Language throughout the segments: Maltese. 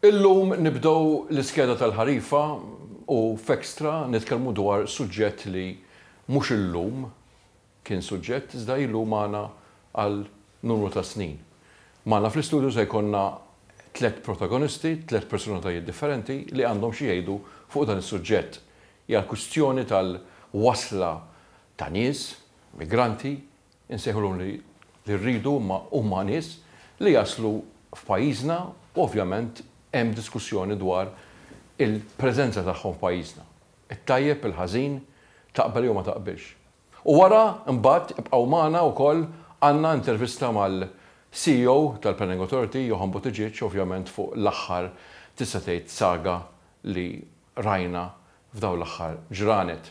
Illum nibdew l-iskeda tal-ħarifa u f'Extra nitkellmu dwar suġġett li mhux illum kien suġġett iżda ilu magħna għal numru ta' snin. Magħna fl-istudju se jkollna tliet protagonisti, tliet personalitajiet differenti li għandhom xi jgħidu fuq dan is-suġġett. Hija l-kwistjoni tal-wasla ta' nies, migranti, Insejħulhom li rridu imma huma nies li jaslu f'pajjiżna u ovvjament hemm diskussjoni dwar il-preżenza tagħhom f'pajjiżna. It-tajjeb, il-ħażin, taqbel jew ma taqbilx. U wara mbagħad ibqgħu magħna wkoll għandna intervista mal-CEO tal-Planning Authority, Johann Buttigieg, ovvjament fuq l-aħħar tista' tgħid saga li rajna f'dawn l-aħħar ġranet.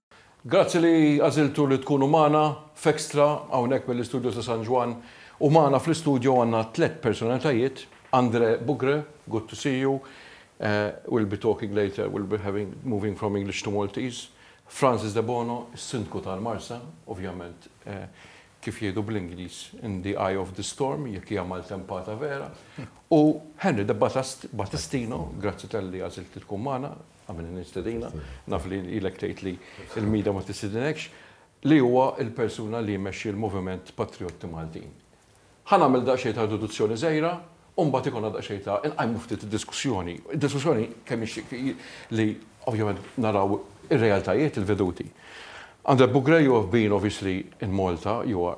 Grazzi li għażiltu li tkunu magħna f'Extra hawnhekk mill-istudio ta' San Ġwann u magħna fl-istudio għandna tliet personalitajiet, Andre Bugre, good to see you, we'll be talking later, we'll be having, moving from English to Maltese, Francis Debono, is-Sindku tal-Marsa, ovvjament kif jgħidu bl-Ingliż in the eye of the storm, jekk hija maltempata vera, u Henry De Battistino, grazzi talli għażilt li tkun magħna, Għamilni nistedina, naf li ilek tgħid li l-mida ma tistedinekx, li huwa l-persuna li jmexxi l-Moviment Patrijotti Maltin. Ħa nagħmel daqsxejn ta' introduzzjoni żgħira u mbagħad ikollna daqsxejn ta' inqajmu ftit id-diskussjoni. Id-diskussjoni kemm hi li ovvjament naraw ir-realtajiet, il-veduti. Andrè Bugrei you have been obviously in Malta, you are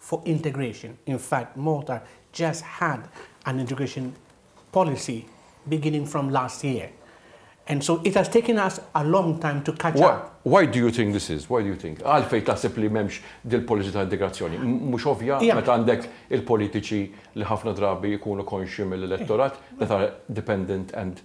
fuq integration. In fact, Malta just had an integration policy beginning from last year and so it has taken us a long time to catch up. Why do you think this is? Why do you think? Għalfejn taħseb li m'hemmx dil-policy ta' integrazzjoni? Mhux ovvja meta għandek il-politiċi li ħafna drabi jkunu konxji mill-elettorat that are dependent and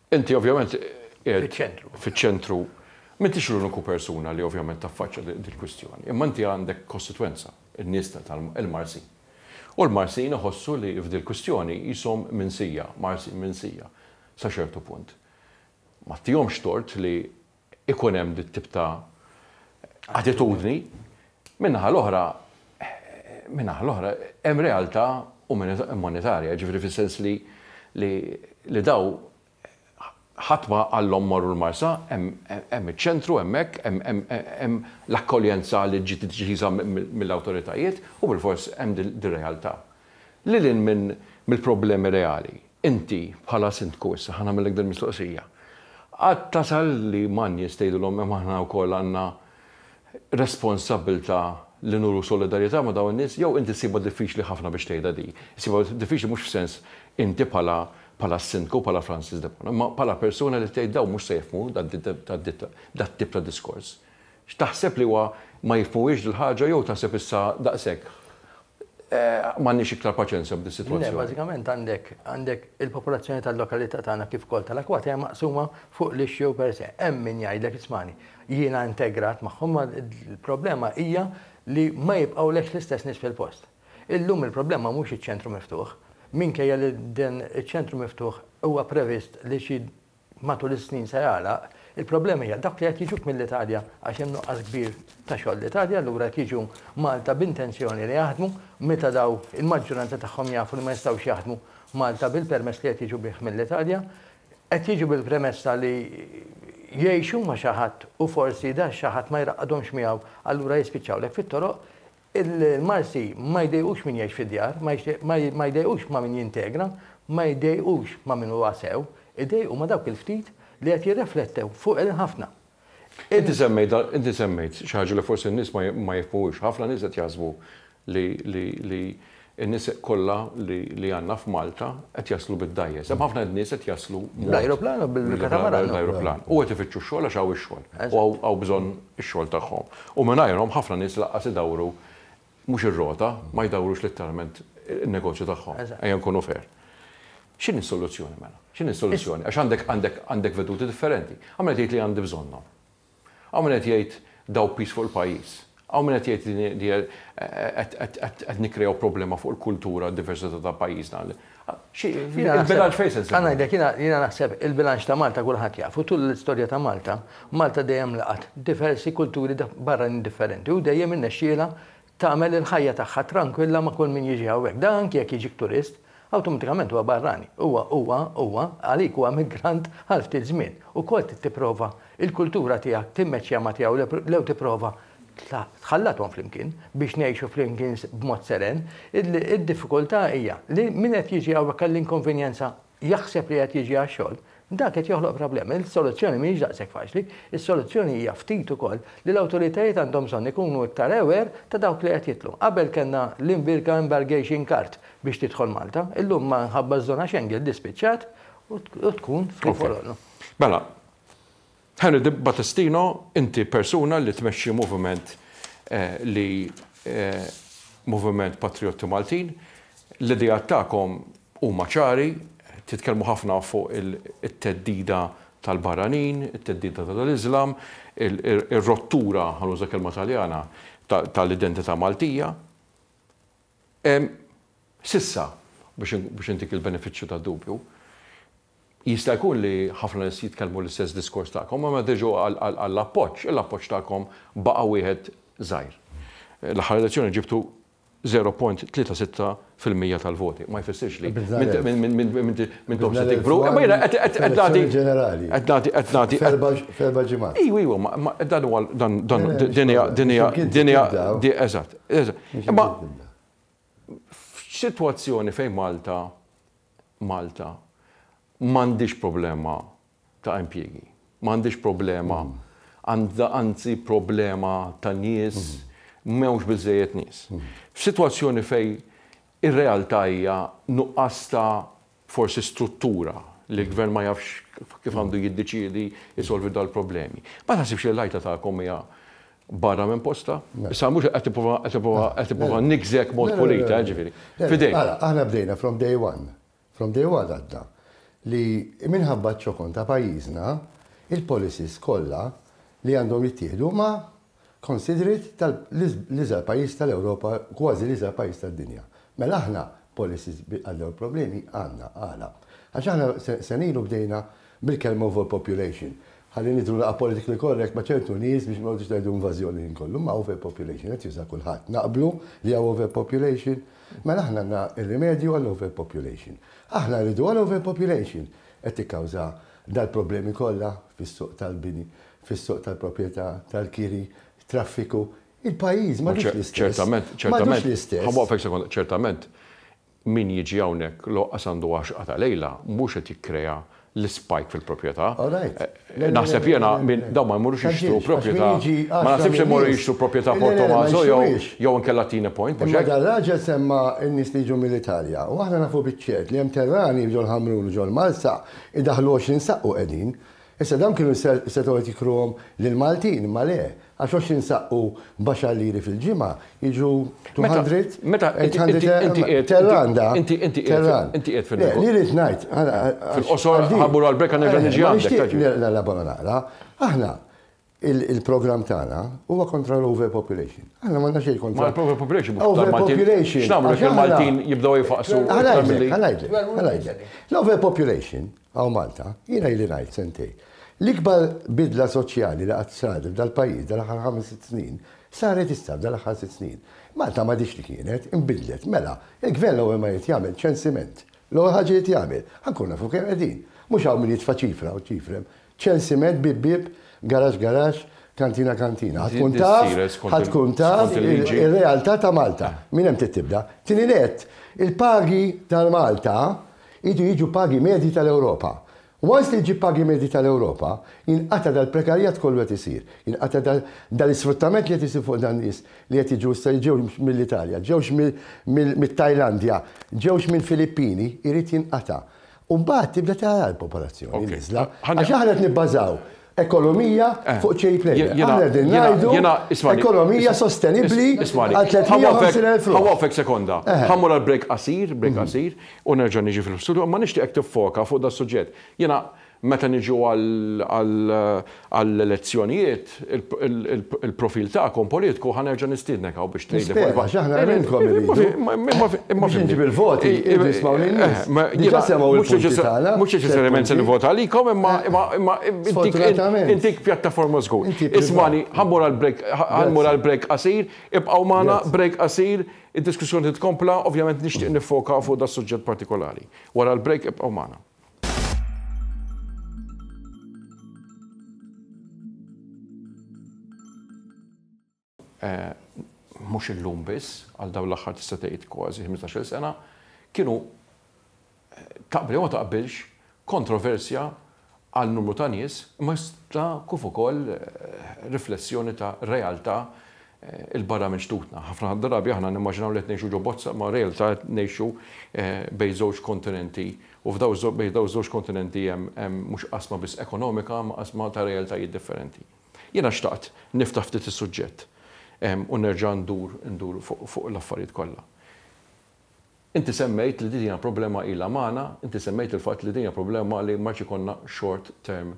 Inti ovvjament qiegħed fiċ-ċentru, m'intix l-uniku persuna li ovvjament taffaċċja dil-kwistjoni, imma inti għandek kostitwenza, in-nies tal-Marsin. U l-Marsin iħossu li f'dil-kwistjoni qishom minsija, Marsin minsija, sa ċertu punt. M'għattihomx tort li ikun hemm dit-tip ta' attitudni. Min-naħa l-oħra, min-naħa l-oħra, hemm realtà monetarja, jiġifieri fis-sens li li daw ħadd ma qalhom morru l-Marsa, hemm iċ-ċentru hemmhekk, hemm l-akkoljenza li ġiet deċiża mill-awtoritajiet u bilfors hemm dir-realtà. Lil hinn minn mill-problemi reali, inti, bħala Sindku issa, ħa nagħmillek din il-mistoqsija, qatt tasal li ma' nies tgħidilhom imma aħna wkoll għandna responsabbiltà li nuru solidarjetà ma' dawn in-nies jew inti ssibha diffiċli ħafna biex tgħidha din? Issibha diffiċli mhux f'sens inti bħala bħala Sindku, bħala Francis Debono, imma bħala persuna li tgħid dawn mhux se jifhmu dat-tip ta' diskors. X'taħseb li huwa ma jifhmuhiex dil-ħaġa jew taħseb issa daqshekk M'għandniex iktar paċenzja b'din is-sitwazzjoni. Le, bażikament għandek għandek il-popolazzjoni tal-lokalità tagħna kif ukoll tal-Akwata hija maqsuma fuq l-issue per se. Hemm min jgħidlek ismagħni, jiena integrat magħhom ma l-problema hija li ma jibqgħulekx l-istess nies fil-post. Illum il-problema mhux iċ-ċentru miftuħ, minkejja li dan iċ-ċentru miftuħ huwa previst li xi matul is-snin se jagħlaq, il-problema hija dawk li qed jiġuk mill-Italja għax hemm nuqqas kbir ta' xogħol l-Italja allura qed jiġu Malta b'intenzjoni li jaħdmu meta daw il-maġġuranza tagħhom jafu li ma jistgħux jaħdmu Malta bil-permess li qed jiġu bih mill-Italja. Qed jiġu bil-premessa li jgħixu ma' xi ħadd u forsi da xi ħadd ma jraqqadhomx miegħu allura jispiċċawlek fit-toroq Il-Malti ma jdejqux min jgħix fid-djar, ma jdejqux ma' min jintegra, ma jdejqux ma' min huwa sew, idejqu ma' dawk il-ftit li qed jirreflettew fuq il-ħafna. Inti semmejt xi ħaġa li forsi n-nies ma jifhmuhiex, ħafna nies qed jaħsbu li In-nisieq kollha li għandna f'Malta qed jaslu bid-dgħajjes. Hemm ħafna nies qed jaslu b'mod. Bl-ajruplan u bil-katamaran. Bl-ajruplan. U qed ifittxu x-xogħol għax hawn ix-xogħol. U hawn bżonn ix-xogħol tagħhom. U mingħajrhom ħafna nies lanqas idawwru mhux ir-rota, ma jdawwrux litteralment in-negozju tagħhom. Ejja nkunu fair. X'inhi s-soluzzjoni mela? X'inhi s-soluzzjoni? Għax għandek veduti differenti. Għamel qed tgħid li għandi bżonnhom. Hawn min qed jgħid daw piż fuq il-pajjiż. Hawn min qed jgħid li din hija qed nikkrejaw problema fuq il-kultura u d-diversità ta' pajjiżna. Il-bilanċ fejn se nsibuh? Ħa ngħidlek, jiena naħseb il-bilanċ ta' Malta kulħadd jafu. Tul l-istorja ta' Malta, Malta dejjem laqgħet diversi kulturi barranin differenti u dejjem irnexxielha tagħmel il-ħajja tagħha trankwilla ma' kull min jiġi hawnhekk. Dan anki jekk jiġik turist, awtomatikament huwa barrani. Huwa, huwa, huwa, għalik huwa migrant għal ftit żmien. Ukoll trid tipprova l-kultura tiegħek timmeċċja ma' tiegħu lew tipprova tħallathom flimkien biex ngħixu flimkien b'mod seren. Id-diffikultà hija li min qed jiġi hawnhekk għall-inkonvenjenza jaħseb li qed jiġi għax-xogħol, dan qed joħloq problemi. Is-soluzzjoni mhijiex daqshekk faċli. Is-soluzzjoni hija ftit ukoll li l-awtoritajiet għandhom bżonn ikunu iktar aware ta' dawk li qed jidħlu. Qabel kellna l-Invirka Embargation Card biex tidħol Malta. Illum minħabba ż-żona Schengen di spiċċat u tkun free for all. Mela, Henry di Battistino, inti persuna li tmexxi moviment li moviment patrijotti Maltin. L-ideat tagħkom huma ċari, titkellmu ħafna fuq it-theddida tal-barranin, it-theddida tal-Iżlam, ir-rottura, ħa nuża kelma Taljana, tal-identità Maltija. S'issa, biex intik il-benefiċċju tad-dubju, Jista' jkun li ħafna nies jitkellmu l-istess diskors tagħkom, imma meta jiġu għall-appoġġ, l-appoġġ tagħkom baqa' wieħed żgħir. L-aħħar elezzjoni ġibtu 0.36 fil-mija tal-voti. Ma jfissirx li m'intomx se tikbru, imma jiena qed nagħti. Qed nagħti, qed nagħti. F'erba' ġimgħat. Iva, iva, ma dan huwa dan din hija, din hija, din hija, eżatt. Imma F'sitwazzjoni fejn Malta, Malta, m'għandhiex problema ta' impjiegi, m'għandhiex problema, għandha anzi problema ta' nies, m'hawnx biżżejjed nies. F'sitwazzjoni fejn ir-realtà hija nuqqas ta' forsi struttura li l-Gvern ma jafx kif għandu jiddeċiedi jsolvi dal-problemi. Ma taħsibx li l-għajta tagħkom hija barra minn postha? Issa mhux qed nipprova qed nipprova qed nipprova niggżek mod pulita, ġifieri. F'idejk. Ara, aħna bdejna from day one, from day one għadna li minħabba ċ-ċokon ta' pajjiżna, il-policies kollha li għandhom jittieħdu huma considerate tal l-iżgħar pajjiż tal-Ewropa kważi l-iżgħar pajjiż tad-dinja. Mela aħna policies bi għal dawn il-problemi għandna. Għala? Għax aħna sena ilu bdejna bil-kelma overpopulation. Ħalli nidhru naqra politically correct ma' ċertu nies biex ma noqgħodux ngħidu invażjoni ħin kollu. Imma overpopulation qed juża kulħadd. Naqblu li hawn overpopulation? Mela aħna għandna r-rimedju għal overpopulation. Aħna rridu għal overpopulation qed tikkawża dal-problemi kollha fis-suq tal-bini fis-suq tal-proprjetà, tal-kiri, traffiku, il-pajjiż m'għadux l-istess. Ċertament, ċertament. Ċertament, min jiġi hawnhekk l-oqqas għandu għaxqa ta' lejla, mhux qed jikkrea l-ispike fil-proprjetà. Naħseb jiena dawn ma jmorrux jixtru proprjetà, ma naħsibx li jmorru jixtru proprjetà Port Tommaso jew inkella Tine Point. Imma dan raġel semma n-nies li jiġu mill-Italja u aħna nafu biċ-ċert li hemm terrani f'Ġol Ħamrun u Ġol Marsa jdaħħlu 20 saqq u qegħdin. Issa dawn kienu setgħu qed jikruhom lill-Maltin, imma le, għax għox jinsaqqu b'għaxar liri fil-ġimgħa, jiġu 200, 800 terranda. Inti qiegħed fin-negozju. Li rrid ngħid. Fil-qosor, ħa mmur għall-break għax nerġa' niġi għandek. Nixtieq nilgħabha ma naqra. Aħna il-programm tagħna huwa kontra l-overpopulation. Aħna ma nafx kontra. Ma l-overpopulation. Overpopulation. X'nagħmlu jekk il-Maltin jibdew jifaqsu. Ħalajtek, L-overpopulation għaw Malta, jiena jli ngħid sentej. L-ikbar bidla soċjali li qatt saret f'dal-pajjiż dal-aħħar ħames sitt snin saret issa f'dal-aħħar sitt snin. Malta ma dix li kienet, imbidlet, mela, il-gvern l-ewwel ma jrid jagħmel ċensiment. L-ewwel ħaġa jrid jagħmel, ħankun nafu kemm qegħdin. Mhux hawn min jitfa' ċifra u ċifrem Chelsea Med Bieb Bieb, Garage Garage, Kantina Kantina. Ħa tkun taf, ħa tkun taf ir-realtà ta' Malta. Minn hemm trid tibda. Tieni nett, il-pagi ta' Malta jridu jiġu pagi medji tal-Ewropa. Once li ġġib pagi medji tal-Ewropa, jinqata' dal-prekarjat kollu qed isir. Jinqata' dal-isfruttament li qed isir fuq dan-nies li qed jiġu issa li ġew mill-Italja, ġewx mit-Tajlandja, ġewx mill-Filippini, irid jinqata'. U mbagħad tibda tara l-popolazzjoni niżla. Għax aħna qed nibbażaw ekonomija eh, fuq ċej play. Aħna din ngħidu ekonomija sostenibbli għal 350,000. Ħawafek sekonda. Eh. Ħammur għal break qasir, break mhm. qasir, u nerġa' niġi fil-studio, ma nixtieqek tiffoka fuq da suġġett. Jiena meta niġu għal għall-elezzjonijiet, il-profil tagħkom politiku ħa nerġa' nistiednek hawn biex tgħidli fuq il-Nispera, għax aħna għamiltkom irridu. Biex inġib il-voti, irridu jismgħu lin-nies. Diġà semgħu l-punti tagħna. Mhux neċessarjament se nivvota għalikom imma intik pjattaforma żgur. Ismagħni, ħa mmur għall-break, ħa mmur għall-break qasir, ibqgħu magħna, break qasir, id-diskussjoni titkompla, ovvjament nixtieq niffoka fuq das-suġġett partikolari. Wara l-break ibqgħu magħna. mhux illum biss, għal dawn l-aħħar tista' tgħid kważi 15-il sena, kienu taqbel jew ma taqbilx kontroversja għal numru ta' nies, imma kif ukoll riflessjoni ta' realtà 'il barra minn xtutna. Ħafna drabi aħna nimmaġinaw li qed ngħixu ġo bozza imma realtà qed ngħixu bejn żewġ kontinenti u f'daw bejn daw żewġ kontinenti hemm hemm mhux qasma biss ekonomika ma qasma ta' realtajiet differenti. Jiena xtaqt niftaħ ftit is-suġġett u nerġa' ndur ndur fuq fuq l-affarijiet kollha. Inti semmejt li din hija problema ilha magħna, inti semmejt il-fatt li din hija problema li ma jridx ikollna short term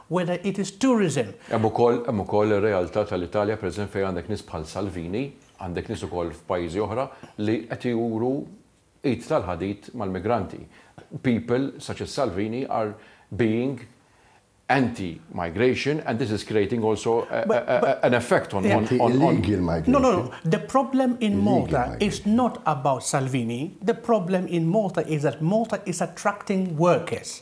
whether it is tourism. Hemm ukoll, hemm ukoll ir-realtà tal-Italja pereżempju fejn għandek nies bħal Salvini, għandek nies ukoll f'pajjiżi oħra li qed juru id tal-ħadid mal-migranti. People such as Salvini are being anti migration and this is creating also an effect on on on illegal migration. No, no, no. The problem in Malta is not about Salvini. The problem in Malta is that Malta is attracting workers.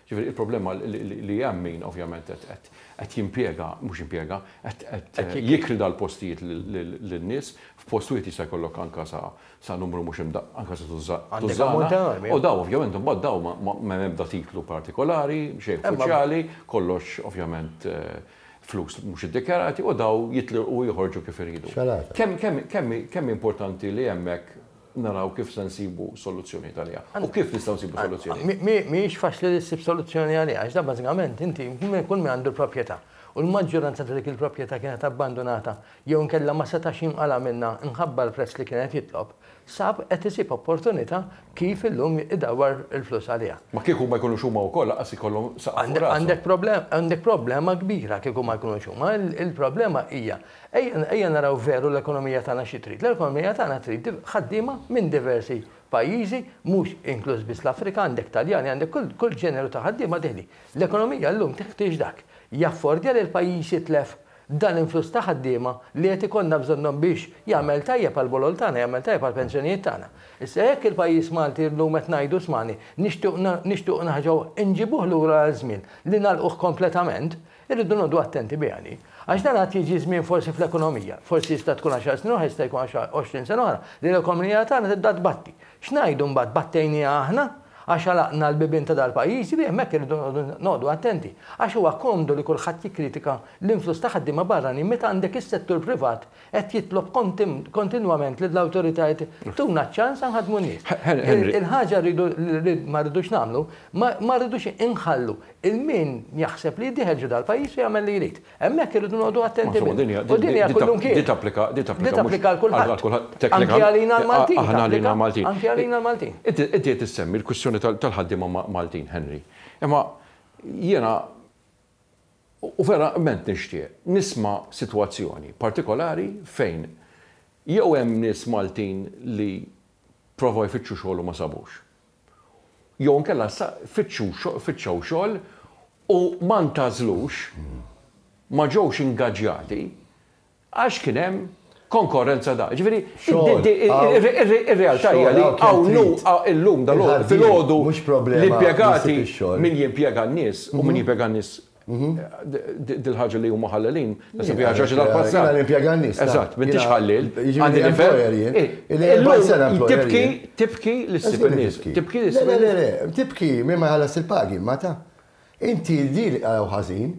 Jiġifieri il-problema li hemm min ovvjament qed jimpjega, mhux impjega, qed jikri dal-postijiet lin-nies, f'post wieħed jista' jkollok anke sa numru mhux imdaqqaq, anke sa tużżana, u dawn ovvjament imbagħad dawn m'hemm ebda titlu partikolari, xejn uffiċjali, kollox ovvjament flus mhux iddikjarati u dawn jitlirqu u joħorġu kif iridu. Kemm hi importanti li hemmhekk naraw kif se nsibu soluzzjonijiet għaliha u kif nistgħu nsibu soluzzjonijiet. Mi- mi- Mhijiex faċli li ssib soluzzjoni għaliha, għax dan bażikament inti min- kull min għandu l-proprjetà. U l-maġġuranza ta' dik il-proprjetà kienet abbandunata jew inkella ma setax jinqala' minnha mħabba l-prezz li kien qed jitlob, sab qed isib opportunità kif illum idawwar il-flus għaliha. Ma kieku ma jkunux huma wkoll lanqas ikollhom saqaf fuq rashom. Għandek problem- għandek problema kbira kieku ma jkunux huma. Il-problema hija Ejja naraw veru l-ekonomija tagħna xi trid. L-ekonomija tagħna trid ħaddiema minn diversi pajjiżi, mhux inkluż biss l-Afrika, għandek Taljani, għandek kull ġeneru ta' ħaddiema dehli. L-ekonomija llum teħtieġ dak. Jaffordja li l-pajjiż jitlef dan l-influss ta' ħaddiema li qed ikollna bżonnhom biex jagħmel tajjeb għall-bolol tagħna, jagħmel tajjeb għall-pensjonijiet tagħna? Issa jekk il-pajjiż Malti llum qed ngħidu smani, nixtiequ nixtiequ nerġgħu nġibuh lura għal żmien li nagħlquh kompletament, Irridu noqogħdu attenti biha din. Għax dan għad jiġi żmien forsi fl-ekonomija, forsi jista' tkun għaxar snin oħra, jista' jkun għoxrin sena oħra, li l-ekonomija tagħna tibda tbatti. X'ngħidu mbagħad, battejniha aħna? Għax għalaqna l-bibien ta' dal-pajjiż? Iva, hemmhekk irridu noqogħdu attenti. Għax huwa komdu li kulħadd jikkritika l-influss ta' ħaddiema barranin meta għandek is-settur privat Qed jitlob kontinwament lill-awtoritajiet tuna ċ-ċans nħaddmu n-nies. Il-ħaġa rridu li ma rridux nagħmlu, ma rridux inħallu lil min jaħseb li jdieħel ġo dal-pajjiż u jagħmel li jrid. Hemmhekk irridu noqogħdu attenti biss. U din hija kullimkien. Din tapplika għal kulħadd. Anki għalina l-Maltin. Anki għalina l-Maltin. Anki għalina l-Maltin. Inti qed issemmi l-kwistjoni tal-ħaddiema Maltin, Henry. Imma jiena U verament nixtieq nisma' sitwazzjoni partikolari fejn jew hemm nies Maltin li provaw jfittxu xogħol u ma sabux. Jew inkella fittxew xogħol u ma ntgħażlux, ma ġewx ingaġġjati, Għax kien hemm konkorrenza daqs. Ġifieri, ir-realtà hija li hawn illum dalgħodu filgħodu l-impjegati, min jimpjega n-nies u min jimpjega n-nies dil-ħaġa li huma ħallelin, naħseb hija xi ħaġa tal-passat. Jiena nimpjega n-nies. Eżatt, m'intix ħalliel. Għandi nifhem. Illum tibki, tibki l-issib in-nies. Tibki l-issib in-nies. Le, le, le, tibki min ma jħallasx il-pagi, ma ta. Inti din li qaraw ħażin,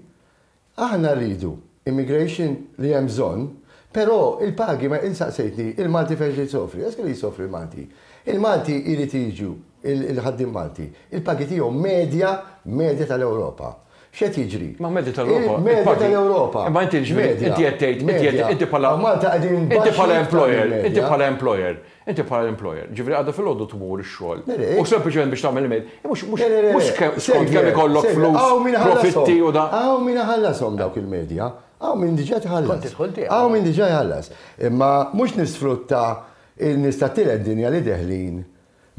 Aħna rridu immigration li hemm bżonn, però il-pagi ma int saqsejtni il-Malti fejn se jsofri. Eske li jsofri l-Malti? Il-Malti jrid jiġu il-ħaddiem Malti, il-pagi tiegħu medja medja tal-Ewropa. X'qed jiġri? Ma medja tal-Ewropa. Medja tal-Ewropa. Imma inti jiġifieri inti qed tgħid inti qed inti bħala Malta qegħdin baxx. Inti bħala employer, inti bħala employer, Inti bħala l-employer, ġifieri għada filgħodu tmur ix-xogħol u sempliċement biex tagħmel il-mail, mhux mhux skont kemm ikollok flus, profitti u da. Hawn min iħallashom dawk il-medja, hawn min diġà tħallas. Hawn min diġà jħallas. Imma mhux nisfrutta n-nies tat-tielet dinja li deħlin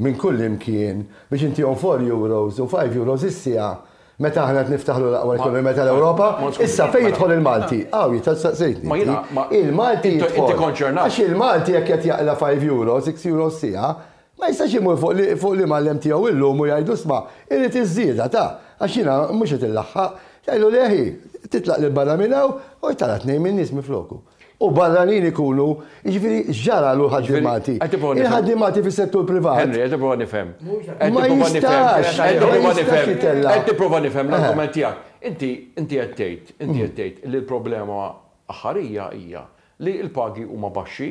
minn kullimkien biex intihom four euros u five euros is-siegħa Meta aħna qed niftaħru l-aqwa ekonomija tal-Ewropa, issa fejn jidħol il-Malti? Hawn jidħol staqsejtni. Ma jiena, ma il-Malti jidħol. Għax il-Malti jekk qed jaqla' 5 euro, 6 euro s-siegħa, ma jistax imur fuq l-imgħallem tiegħu illum u jgħidlu isma' irrid iż-żieda ta' għax jiena mhux qed inlaħħaq. Jgħidlu le ħi, titlaq lil barra minn hawn u tara tnejn min-nies minfloku. u barranin ikunu, jiġifieri x'ġara l ħaddiemati. Il-ħaddiemati fis-settur privat. Henry, qed tipprova nifhem. Ma jistax. Qed tipprova nifhem l-argument tiegħek. Inti inti qed tgħid, inti qed tgħid li l-problema aħħarija hija li l-pagi huma baxxi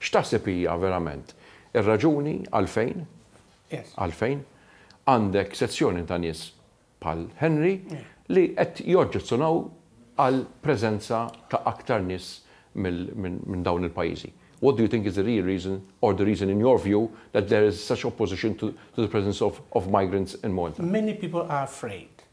X'taħseb hija verament ir-raġuni għalfejn, għalfejn, għandek sezzjoni ta' nies bħal Henry li qed joġġezzjonaw għal preżenza ta' aktar nies minn dawn il-pajjiżi? What do you think is the real reason or the reason in your view that there is such opposition to the presence of migrants in Malta? Many people are afraid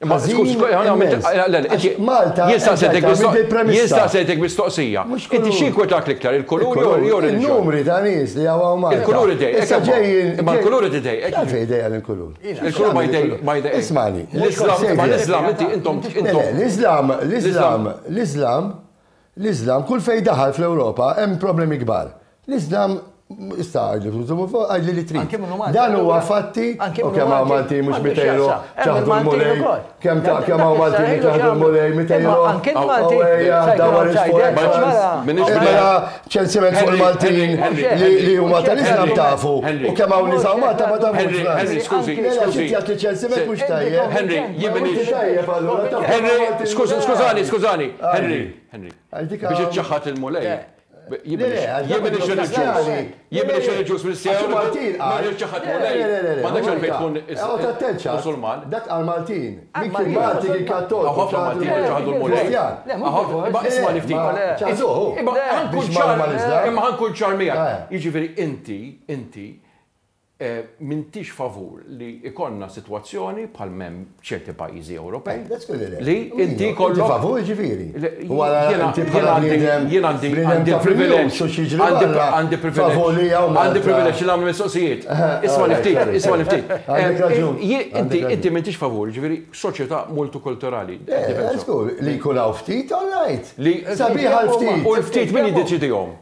Imma skuż, Malta. Jista' sejtek mistoqsija. Inti xi jinkwetak l-iktar il-kulur jew il-ġurnata? Il-numri ta' nies li hawn Malta. Il-kulur idejqek. Issa ġejjin. Imma l-kulur qed idejqek. Għalfejn idejqek il-kulur? Il-kulur ma jdejqek. Ismagħni. L-Iżlam, imma l-Iżlam inti intom. L-Iżlam, l-Iżlam, l-Iżlam L-Iżlam, kull fejn daħal fl-Ewropa hemm problemi kbar. L-Iżlam Issa għajdli tużumu fuq, għajdli li trid. Anki minnu Malti. Dan huwa fatti, u kemm hawn Malti mhux mitejru ċaħdu l-mulej, kemm ta' kemm hawn Malti li ċaħdu l-mulej mitejru. Anki Malti. Dawar is-sport. Mela ċensiment fuq il-Maltin li huma tal-Islam tafu. U kemm hawn nisa u Malta ma tafux. Henry, Henry, skużi, skużi. Ċensiment mhux tajjeb. Henry, jibni. Henry, skużi, skużani, skużani. Henry, Henry. Biex iċċaħħad il-mulej. Jibni xi ġus. Jibni xi ġus minn sew. Maltin. Ma iċċaħħad mulej. Ma dak xejn tkun musulman. Dak għal Maltin. Maltin Maltin kien kattol. Ħafna Maltin iċċaħħdu l-mulej. Ma isma' li ftit. Iżoħu. Imma ħankun ċar. Imma ħankun ċar miegħek. Jiġifieri inti, inti, M'intix favur li jkollna sitwazzjoni bħal m'hemm f'ċerti pajjiżi Ewropej li inti jkollok. Inti favur jiġifieri? U ara inti bħala bniedem, bniedem ta' privileġġ u xi jiġri barra, favur li hawn. Għandi privileġġ li nagħmel mistoqsijiet. Ismagħni ftit, ismagħni ftit. Għandek raġun. Inti, inti m'intix favur, jiġifieri soċjetà multikulturali. Żgur, li jkun hawn ftit, all right. Sabiħ għall-ftit. U l-ftit min jiddeċidihom?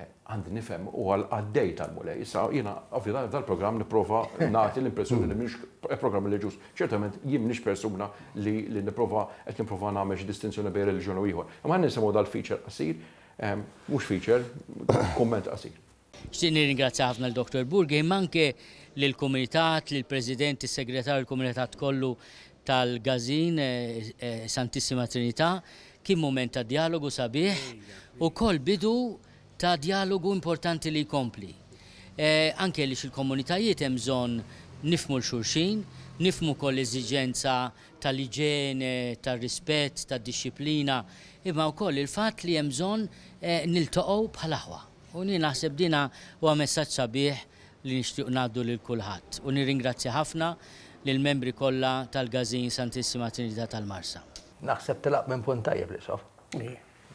Għandi nifhem, u għal qaddej tal-Mulej. Issa, jiena, ovvjament, f'dan il-programm nipprova nagħti l-impressjoni li m'iniex programm reliġjuż. Ċertament, jien m'iniex persuna li li nipprova qed nipprova nagħmel xi distinzjoni bejn reliġjon u ieħor. Imma ħalli nisimgħu dal-feature qasir, mhux feature, kumment qasir. Xtieq nirringrazzja ħafna lil Dottor Burgi, imma anke lill-Kumitat, lill-President, is-Segretarju, l-Kumitat kollu tal-Gażin Santissima Trinità, Kien mument ta' djalogu sabiħ, ukoll bidu ta' djalogu importanti li jkompli. Anki għaliex il-komunitajiet hemm bżonn nifhmu 'l xulxin, nifhmu wkoll l-eżiġenza tal-iġene, tar-rispett, tad-dixxiplina, imma wkoll il-fatt li hemm bżonn niltaqgħu bħal aħwa. U jien naħseb din huwa messaġġ sabiħ li nixtiequ ngħaddu lil kulħadd. U nirringrazzja ħafna lill-membri kollha tal-Gazin Santissima Trinità tal-Marsa. Naħseb telaq minn punt tajjeb l-Isqof.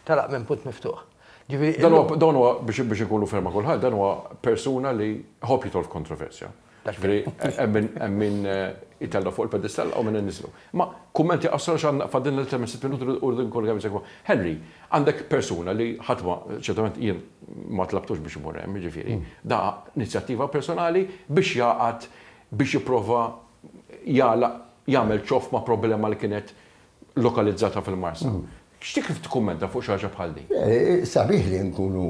Telaq minn punt miftuħ. Ġifieri. Dan huwa dan huwa biex biex inkunu ferma kulħadd dan huwa persuna li jħobb jidħol f'kontroversja. Ġifieri hemm min hemm min eh, itella' fuq il-pedestall u minn inniżlu. Ma kummenti qasra x'għandna fadilna li temmen sitt minuti u rridu nkunu kemm jsekkwa. Henry, għandek persuna li ħadd ma ċertament jien ma tlabtux biex imur hemm, jiġifieri, hmm. da inizjattiva personali biex jaqgħad biex jipprova jagħlaq, jagħmel ċoff ma' problema li kienet lokalizzata fil-Marsa. X'ti kif tikkummenta fuq xi ħaġa bħal din? Sabiħ li nkunu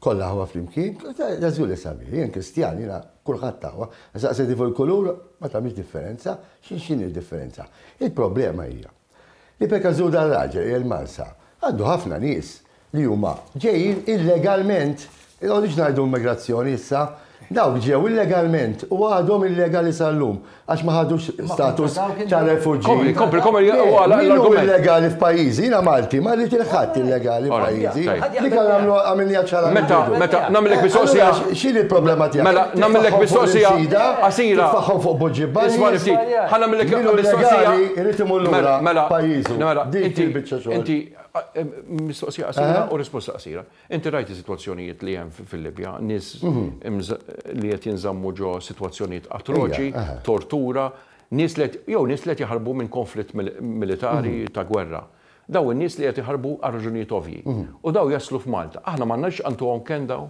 kollha aħwa flimkien, ta' żgur li sabiħ. Jien Kristjan, jiena kulħadd aħwa. Saqsi tifel kulur ma tagħmilx differenza, x'inhi d-differenza? Il-problema hija Li peka żhu dar-raġel hija l-Marsa. Għandu ħafna nies li huma ġejjin illegalment. Inqogħdux ngħidu immigrazzjoni issa. Dawk ġew illegalment u għadhom illegali sal-lum għax ma ħadux status ta' refuġġi. Kompli, kompli, kompli, Le, u għala min hu l-argument. illegali f'pajjiżi? Jiena Malti, ma rrid il-ħadd illegali Ora, f'pajjiżi. tajjeb. Li kan għamlu għamilniha ċara minn Meta, bidu. meta, nagħmlek Eh, mistoqsija. allura x- X'inhi l-problema tiegħek? Mela, Titfaħħom nagħmlek fuq mistoqsija l-imsida, qasira. Titfaħħom fuq Buġġi Isma' li ftit. Ħa nagħmlek Min hu mistoqsija. illegali Irid imur lura Mela, mela, pajjiżu. mela, Dik inti, il-biċċa xogħol. inti, a- em, mistoqsija qasira Eh? u risposta qasira. Inti rajt is-sitwazzjonijiet li hemm fi- fil-Libja, nies imż- li qed jinżammu ġo sitwazzjonijiet atroċi, Ija, eh. tortura, nies li qed- jew nies li qed jaħarbu minn konflitt mil- militari ta' gwerra. Daw in-nies li qed iħarbu għal raġunijiet ovvji. U daw jaslu f'Malta. Aħna m'għandniex antuhom kenn daw?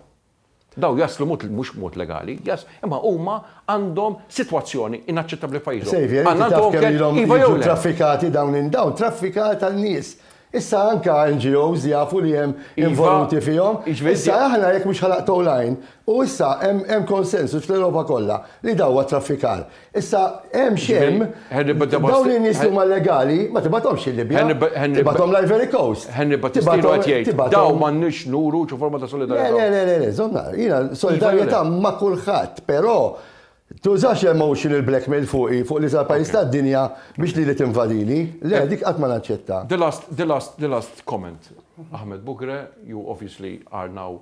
Dawn jaslu mod mhux b'mod legali, imma huma għandhom sitwazzjoni inaċċettabbli f'pajjiżhom. Saviour, inti taf kemm ilhom jiġu traffikati dawn in. Dawn traffikar tan-nies. Issa anke NGOs jafu li hemm involuti fihom. Issa aħna jekk mhux ħa naqtgħu l-għajn, u issa hemm konsensus fl-Ewropa kollha li dan huwa traffikar. Issa, hemm xem, dawn in-nies li huma legali, ma tibgħathomx il-Libja, tibgħathom l-Ivory Coast. Henry Battistilu qed jgħid, dawn m'għandniex nuru xi forma ta' solidarjetà. Le, le, le, le, żomm nagħraf. Jiena solidarjetà ma' kulħadd, però tużax emotional blackmail fuqi, fuq l-iżgħar pajjiż tad-dinja biex lili tinvadini. Le, dik qatt ma naċċettha. The last, the last, the last comment, Ahmed Bugre, you obviously are now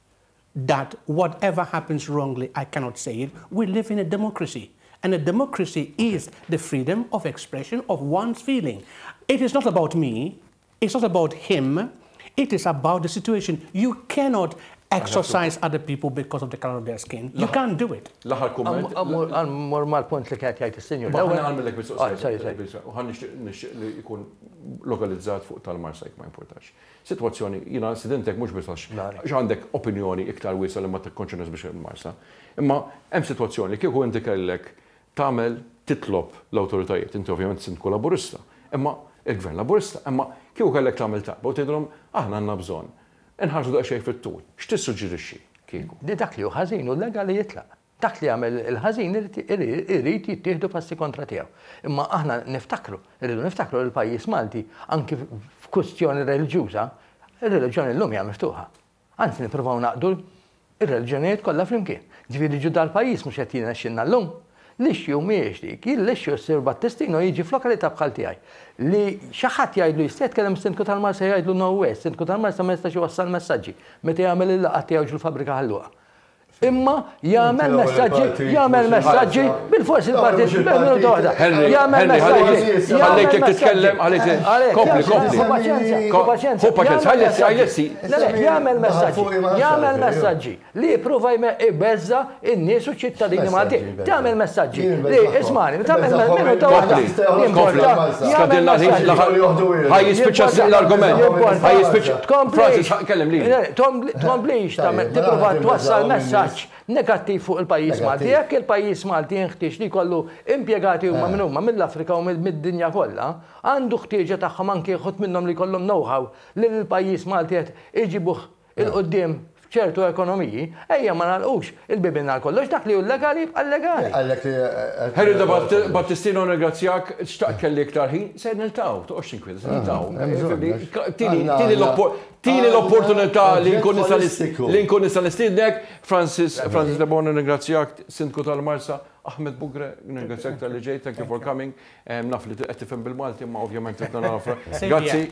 that whatever happens wrongly I cannot say it, we live in a democracy and a democracy is the freedom of expression of one's feeling. It is not about me, it is not about him, it is about the situation. You cannot exorcise other people because of the color of their skin. You can't do it. L-aħħar kumment. Mor mal-punt li kienet jgħid is-sinjur. Ewwel għamillek mistoqsija. U ħan nixtieq li jkun lokalizzat fuq tal-Marsajk ma importax. Sitwazzjoni, jiena incident hekk mhux biss għax għax għandek opinjoni iktar wiesgħa li ma tikkonċernax biex immarsha. Imma hemm sitwazzjoni li kieku inti kellek tagħmel titlob l-awtoritajiet, inti ovvjament Sindku Laburista, imma il-Gvern Laburista, imma kieku kellek tagħmel talba u tgħidilhom aħna għandna bżonn inħarsu daqsxejn fit-tul, x'tissuġġerixxi kieku? Li dak li hu ħażin u llegali jitlaq. Dak li jagħmel il-ħażin irid jittieħdu passi kontra tiegħu. Imma aħna niftakru, irridu niftakru li l-pajjiż Malti anki f'kwistjoni reliġjuża, ir-reliġjoni llum hija miftuħa. Anzi nippruvaw ngħaqqdu r-reliġjonijiet kollha flimkien. Ġifieri ġu dal-pajjiż mhux qed jirnexxilna llum. L-issue mhijiex dik, hi l-issue s-Sur Battistino jiġi f'lokalità bħal tiegħi. Li xi ħadd jgħidlu jista' jitkellem is-Sindku tal-Marsa jgħidlu no way, is-Sindku tal-Marsa ma jistax iwassal messaġġi meta jagħmel il-laqgħat tiegħu ġol-Fabbrika Ħal-Luqa. Imma jagħmel messaġġi, jagħmel messaġġi, bil-forsi l-parti minuta waħda. Jagħmel messaġġi. Ħallejk jekk titkellem, ħallejk kompli, kompli. Hu paċenza, ħallessi, ħallessi. Jagħmel messaġġi, jagħmel messaġġi li jipprova jbeżża' n-nies u ċ-ċittadini Maltin. Tagħmel messaġġi. Ismani, tagħmel messaġġi. Ħaj jispiċċa s l-argument. Ħaj jispiċċa. Francis, kellem li. Tkomplix tagħmel tipprova twassal messaġġ negattiv fuq il-pajjiż Malti. Jekk il-pajjiż Malti jinħtieġ li jkollu impjegati huma minn huma mill-Afrika u mid-dinja kollha, għandu ħtieġa tagħhom anke jħodd minnhom li jkollhom know-how li l-pajjiż Malti qed iġibuh 'il quddiem f'ċertu ekonomiji, ejja ma nagħlqux il-bibien għal kollox, dak li hu llegali jibqa' llegali. Herida Battistino nirringrazzjak, xtaqt kelli iktar ħin, se niltaqgħu, toqgħodx tinkwieta, se niltaqgħu. Tini l-opportunità li nkun nista' nistiednek, Francis De Bono nirringrazzjak, Sindku tal-Marsa, Ahmed Bugreh nirringrazzjak talli ġejt, thank you for coming, naf li qed tifhem bil-Malti imma ovvjament trid nagħraf. Grazzi.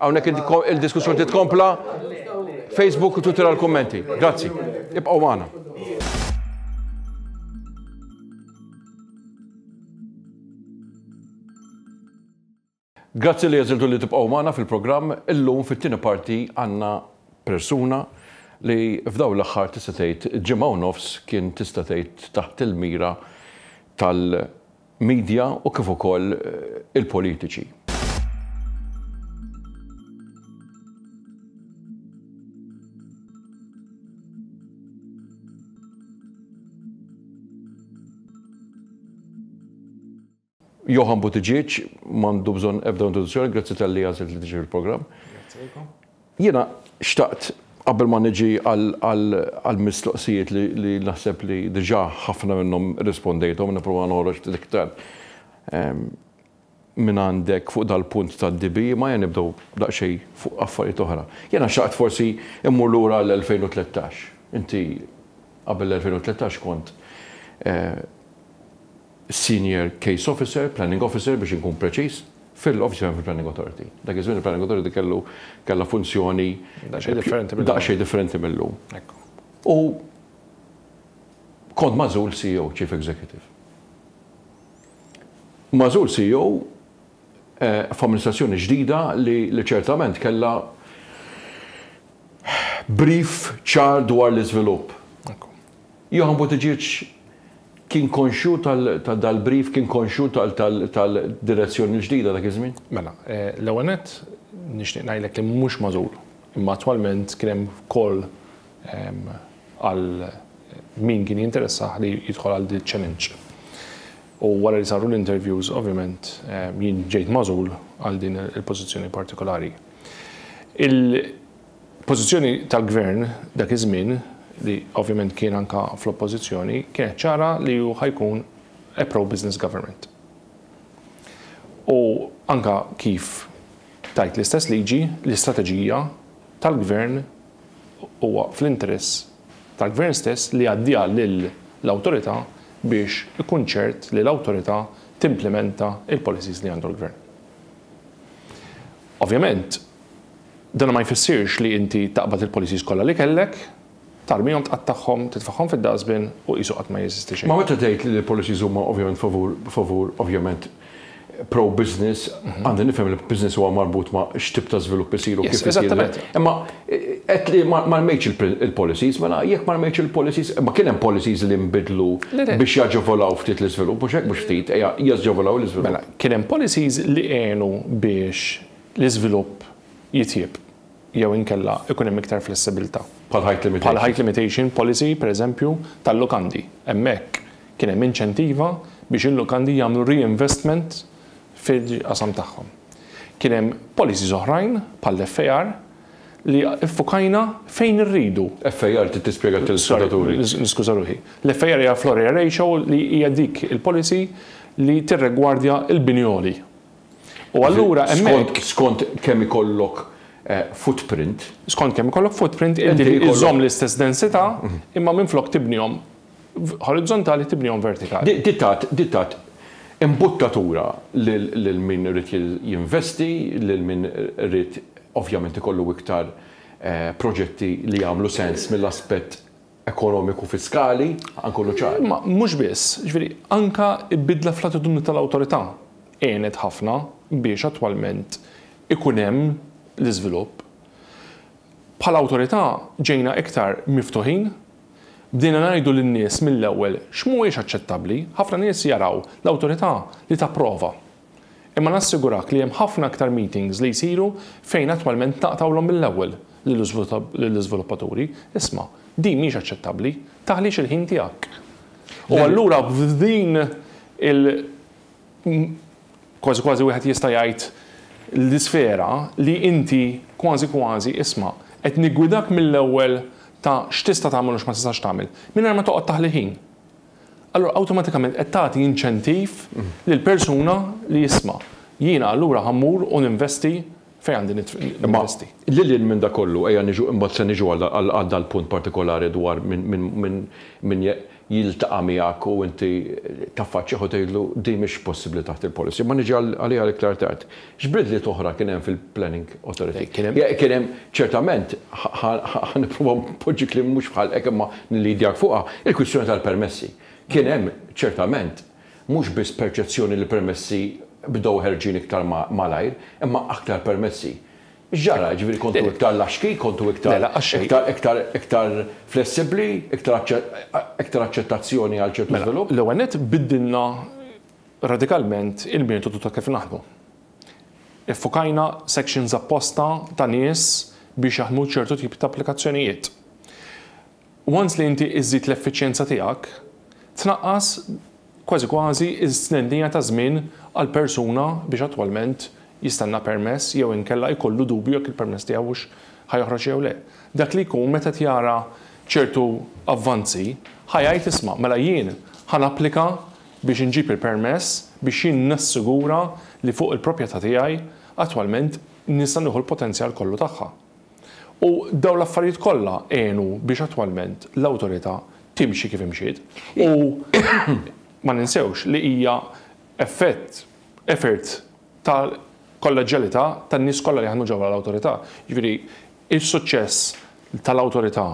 Hawnhekk il-diskussjoni trid tkompla. Facebook u Twitter għal kummenti. Grazzi. Ibqgħu magħna. Grazzi li jeżiltu li tibqgħu magħna fil-programm. Illum fit-tieni parti għandna persuna li f'daw l-aħħar tista' tgħid ġimgħa u nofs kien tista' tgħid taħt il-mira tal media u kif ukoll il-politiċi. Johann Buttigieg m'għandu bżonn ebda introduzzjoni, grazzi talli għażilt li tiġi fil-programm. Grazzi lilkom. Jiena xtaqt qabel ma niġi għall-mistoqsijiet li naħseb li diġà ħafna minnhom irrispondejthom, nipprova noħroġ ftit iktar minn għandek fuq dal-punt tad-DB, imma ejja nibdew daqsxejn fuq affarijiet oħra. Jiena xtaqt forsi mmur lura għall-2013. Inti qabel l-2013 kont Senior Case Officer, Planning Officer biex inkun preċiż, fil-Office of Planning Authority. Dak iż-żmien il-Planning Authority kellu kellha funzjoni daqsxejn differenti mil-lum. U kont magħżul CEO, Chief Executive. Magħżul CEO f'amministrazzjoni ġdida li ċertament kellha brief ċar dwar l-iżvilupp. Johann Buttigieg kien konxju ta' dal-brief, kien konxju tal-direzzjoni l-ġdida dak iż-żmien? Mela, l-ewwel nett nixtieq ngħidlek li mhux magħżul, imma attwalment kien hemm call għal min kien jinteressah li jidħol għal din iċ-challenge. U wara li saru l-interviews ovvjament jien ġejt magħżul għal din il-pożizzjoni partikolari. Pożizzjoni tal-Gvern dak iż-żmien, li ovvjament kien anke fl-Oppożizzjoni, kienet ċara li hu ħa jkun a pro-business government. U anke kif tgħid l-istess liġi, l-istrateġija tal-Gvern huwa fl-interess tal-Gvern stess li jgħaddiha lill-Awtorità biex ikun ċert li l-Awtorità timplimenta l-policies li għandu l-Gvern. Ovvjament, Dan ma jfissirx li inti taqbad il-policies kollha li kellek, tarmihom, tqattagħhom, titfagħhom fid-dustbin u qisu qatt ma jeżisti xejn. Ma meta tgħid li l-policies huma ovvjament favur, favur, ovvjament pro-business, għandi nifhem li business huwa marbut ma' x'tip ta' żvilupp isir u kif isir. Yes, eżattament. Imma għedt li ma rmejtx il-policies, mela jekk ma rmejtx il-policies, imma kien hemm policies li nbidlu biex jaġevolaw ftit l-iżvilupp, mhux hekk, mhux ftit, ejja, jaġevolaw l-iżvilupp. Mela, kien hemm policies li għenu biex l-iżvilupp jitjieb jew inkella ikun hemm iktar flessibilità. Bħal height limitation. Bħal height limitation policy, pereżempju, tal-lukandi. Hemmhekk kien hemm inċentiva biex il-lukandi jagħmlu reinvestment fil-qasam tagħhom. Kien hemm policies oħrajn, bħall-FAR, li ffukajna fejn irridu. FAR trid tispjega għat-telespettaturi. Sorry, niskuża ruħi. L-FAR hija floor area ratio li hija dik il-policy li tirregwardja l-bini għoli. U allura hemmhekk. Skont kemm ikollok footprint. Skont kemm ikollok footprint inti iżżomm l-istess densità imma minflok tibnihom orizzontali tibnihom vertikali. Di tat imbuttatura lil min irid jinvesti, lil min irid ovvjament ikollu iktar proġetti li jagħmlu sens mill-aspett ekonomiku fiskali, ħa nkunu ċari. Imma mhux biss, jiġifieri anke l-bidla fl-attitudni tal-awtorità għenet ħafna biex attwalment ikun hemm l-iżvilupp. Bħala awtorità ġejna iktar miftuħin, bdejna ngħidu lin-nies mill-ewwel x'mhuwiex aċċettabbli, ħafna nies jaraw l-awtorità li tapprova. Imma nassigurak li hemm ħafna aktar meetings li jsiru fejn attwalment naqtgħulhom mill-ewwel lill-iżviluppaturi, isma', din mhijiex aċċettabbli, taħlix il-ħin tiegħek. U allura f'din il kważi kważi wieħed jista' jgħid l-isfera li inti kważi kważi, isma', qed niggwidak mill-ewwel ta' x'tista' tagħmel u x'ma tistax tagħmel, mingħajr ma toqgħod taħli ħin. allura awtomatikament qed tagħti inċentiv lil persuna li isma', jiena allura ħa mmur u ninvesti fejn għandi ninvesti. Imma lil hinn minn dak kollu, ejja niġu, imbagħad se niġu għal dal-punt partikolari dwar min jiltaqa' miegħek u inti taffaċċjah u tgħidlu din mhix possibbli taħt il-policy, imma niġi għaliha iktar tard. X'bidliet oħra kien hemm fil-Planning Authority? Kien hemm. Kien hemm ċertament, ħa nipprova npoġġi kliem mhux f'ħalqek imma nillidjak fuqha, il-kwistjoni tal-permessi. Kien hemm ċertament mhux biss perċezzjoni li l-permessi bdew ħerġin iktar malajr, imma aktar permessi. X'ġara? Jiġifieri kontu iktar laxki, kontu iktar iktar iktar flessibbli, iktar aċċettazzjoni għal ċertu żvilupp? Mela, l-ewwel nett biddilna radikalment il-metodu ta' kif naħdmu. Iffukajna sections apposta ta' nies biex jaħdmu ċertu tip ta' applikazzjonijiet. Once li inti iżżid l-effiċjenza tiegħek, tnaqqas kważi kważi s-stnennija ta' żmien għal persuna biex attwalment jistenna permess jew inkella jkollu dubju jekk il-permess tiegħu hux ħa joħroġ jew le. Dak li jkun meta qed jara ċertu avvanzi ħa jgħid isma' mela jien ħa napplika biex inġib il-permess biex jien nassigura li fuq il-proprjetà tiegħi attwalment nista' nieħu l-potenzjal kollu tagħha. U dawn l-affarijiet kollha għenu biex attwalment l-Awtorità timxi kif imxiet u ma ninsewx li hija effett, effort tal-kolleġġjalità tan-nies kollha li jaħdmu ġewwa l-Awtorità. Jiġifieri s-suċċess tal-Awtorità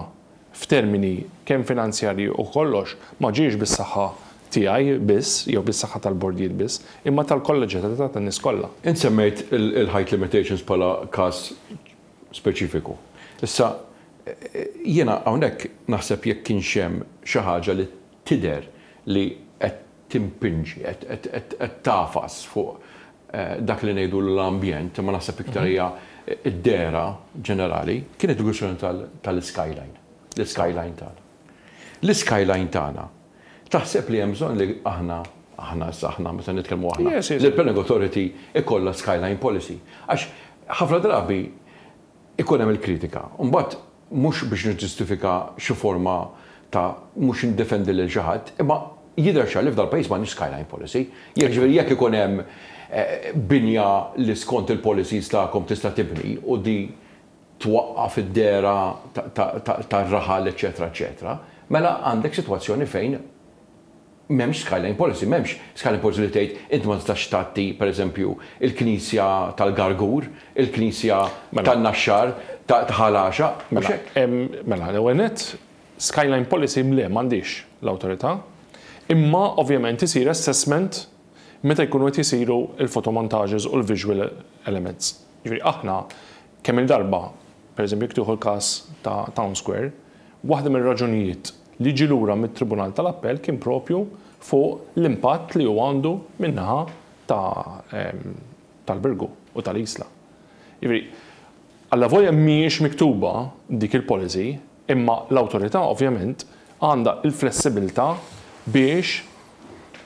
f'termini kemm finanzjarji u kollox, ma ġiex bis-saħħa tiegħi biss jew bis-saħħa tal-bordijiet biss, imma tal-kolleġjalità tan-nies kollha. Int semmejt il-height limitations bħala każ speċifiku. Issa, jiena hawnhekk naħseb jekk kienx hemm xi ħaġa li tidher li qed timpinġi, qed tagħfas fuq dak li ngħidulu l-ambjent, imma naħseb iktar hija d-dehra ġenerali, kienet il-kwistjoni tal-iskyline, l-iskyline tagħna. L-iskyline tagħna, taħseb li hemm bżonn li aħna, aħna issa aħna, meta nitkellmu aħna, li l-planning authority ikollha skyline policy? Għax ħafna drabi ikun hemm il-kritika. Imbagħad mhux biex niġġustifika xi forma ta' mhux indefendi lil xi ħadd, imma jidher ċar li f'dan il-pajjiż m'għandniex skyline policy. Jekk jiġifieri jekk ikun hemm binja li skont il-policies tagħkom tista' tibni u di twaqqaf id-dehra tar-raħal eċċetera eċċetera, mela għandek sitwazzjoni fejn M'hemmx skyline policy, m'hemmx skyline policy li tgħid inti ma tistax tgħatti, pereżempju, il-knisja tal-Gargur, il-knisja tan-Naxxar, ta' Ħal Għaxaq, mhux hekk? Mela, l-ewwel nett, skyline policy le, m'għandhiex l-awtorità, imma ovvjament isir assessment meta jkunu qed isiru l-photomontages u l-visual elements. Jiġifieri aħna Kemm-il darba, pereżempju jekk tieħu l-każ ta' Town Square, waħda mir-raġunijiet li ġie lura mit-Tribunal tal-Appell kien proprju fuq l-impatt li hu għandu min-naħa ta' tal-Birgu u tal-Isla. Jiġifieri, allavolja mhijiex miktuba dik il-policy, Imma l-Awtorità ovvjament għandha l-flessibilità biex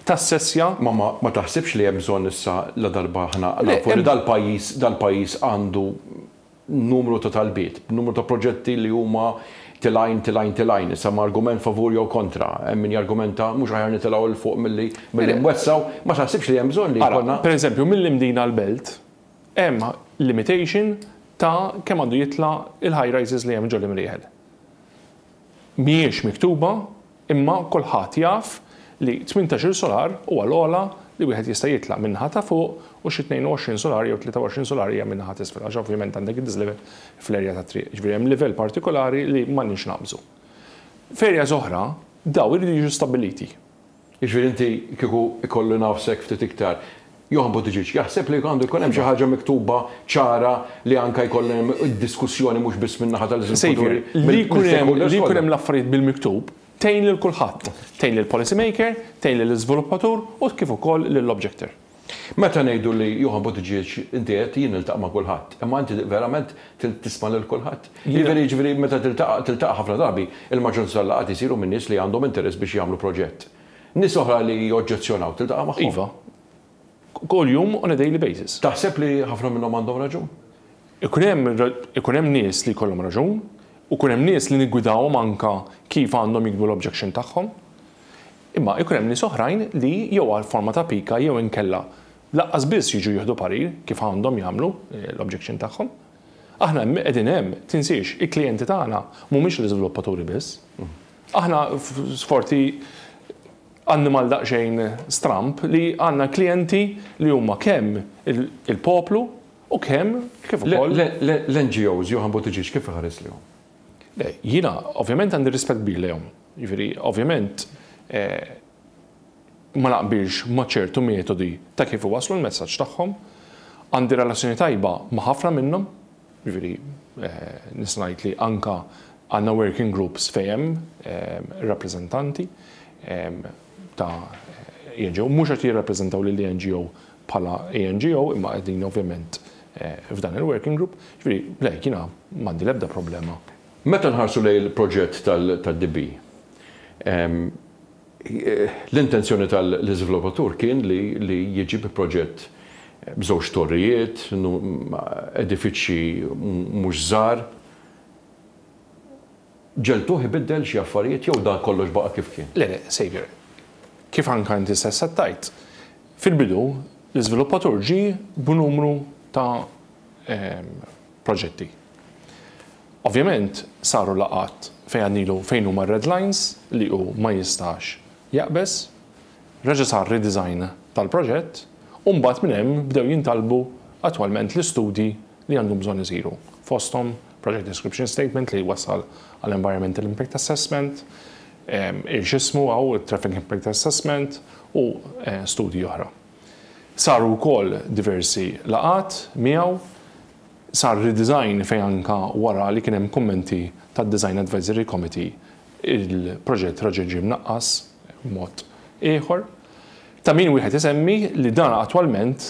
tassessja. Ma ma taħsibx li hemm bżonn issa ladarba aħna nafu li dal-pajjiż dal-pajjiż għandu numru ta' talbiet, b'numru ta' proġetti li huma till għajn till għajn till għajn, issa ma argument favur jew kontra, hemm min jargumenta mhux aħjar nitilgħu 'l fuq milli milli nwessgħu, ma taħsibx li hemm bżonn li jkollna. Ara, pereżempju, mill-Imdina għall-Belt, Hemm limitation ta' kemm għandu jitla' il-high rises li hemm ġol Imrieħel. Mhijiex miktuba imma kulħadd jaf li tmintax-il solar huwa l-ogħla li wieħed jista' jitla' min-naħa ta' fuq u xi tnejn u għoxrin solar jew tlieta u għoxrin solar hija min-naħa t'isfel għax ovvjament għandek id-dislevel fl-area tat-triq. Jiġifieri hemm livell partikolari li m'għandniex naqbżu. F'areas oħra dawn iridu jiġu stabbiliti. Jiġifieri inti kieku ikolli nagħfsek ftit iktar, Johann Buttigieg jaħseb li għandu jkun hemm xi ħaġa miktuba ċara li anke jkollha hemm id-diskussjoni mhux biss min-naħa tal-iżviluppaturi mill-stakeholders kollha? Saviour, li jkun hemm l-affarijiet bil-miktub tgħin lil kulħadd. Tgħin lill-policy maker, tgħin lill-iżviluppatur u kif ukoll lill-objector. Meta ngħidu li Johann Buttigieg inti għedt jien niltaqa' ma' kulħadd, imma inti verament tisma' lil kulħadd? Jiena Jiġifieri meta tiltaqa' tiltaqa' ħafna drabi il-maġġoranza tal-laqgħat isiru minn nies li għandhom interess biex jagħmlu proġett. Nies oħra li joġġezzjonaw tiltaqa' magħhom? Iva. Kuljum on a daily basis. Taħseb li ħafna minnhom għandhom raġun? Ikun hemm ikun hemm nies li jkollhom raġun u jkun hemm nies li niggwidahom anke kif għandhom jiktbu l-objection tagħhom. Imma jkun hemm nies oħrajn li jew għal forma ta' pika jew inkella lanqas biss jiġu jieħdu parir kif għandhom jagħmlu l-objection tagħhom. Aħna hemm qegħdin hemm, tinsiex, il-klijenti tagħna mhumiex l-iżviluppaturi biss. Aħna sforti annimal daqsxejn stramb li għandna klijenti li huma kemm il-poplu u kemm kif ukoll. Le, le, le, l-NGOs, Johann Buttigieg kif iħares lihom? Le, jiena ovvjament għandi rispett kbir lejhom. Jiġifieri, ovvjament, ma naqbilx ma' ċertu metodi ta' kif iwasslu l-messaġġ tagħhom. Għandi relazzjoni tajba ma' ħafna minnhom. Jiġifieri, nista' ngħid li anke għandna working groups fejn hemm rappreżentanti. ta' ENGO mhux qed jirrappreżentaw lill-ENGO bħala ENGO imma qegħdin ovvjament f'dan il-working group. Jiġifieri, le, jiena m'għandi l-ebda problema. Meta nħarsu lejn il-proġett tad-DB, l-intenzjoni tal-iżviluppatur kien li jiġi bi proġett b'żewġ torrijiet, edifiċċji mhux żgħar. Ġeltuh ibiddel xi affarijiet jew dan kollox baqa' kif kien? Le le, Saviour. Kif anka inti stess qed tgħid, fil-bidu l-iżviluppatur ġie b'numru ta' proġetti. Ovvjament saru laqgħat fejn għadnilu fejn huma r-red lines li hu ma jistax jaqbeż, reġa' sar redesign tal-proġett u mbagħad minn hemm bdew jintalbu attwalment l-istudji li għandhom bżonn isiru, fosthom Project Description Statement li jwassal għal Environmental Impact Assessment, x'ismu hawn, Traffic Impact Assessment u studji oħra. Saru wkoll diversi laqgħat miegħu, sar redesign fejn anke wara li kien hemm kummenti tad-Design Advisory Committee il-proġett reġa' ġie mnaqqas b'mod ieħor. Ta' min wieħed isemmi li dan attwalment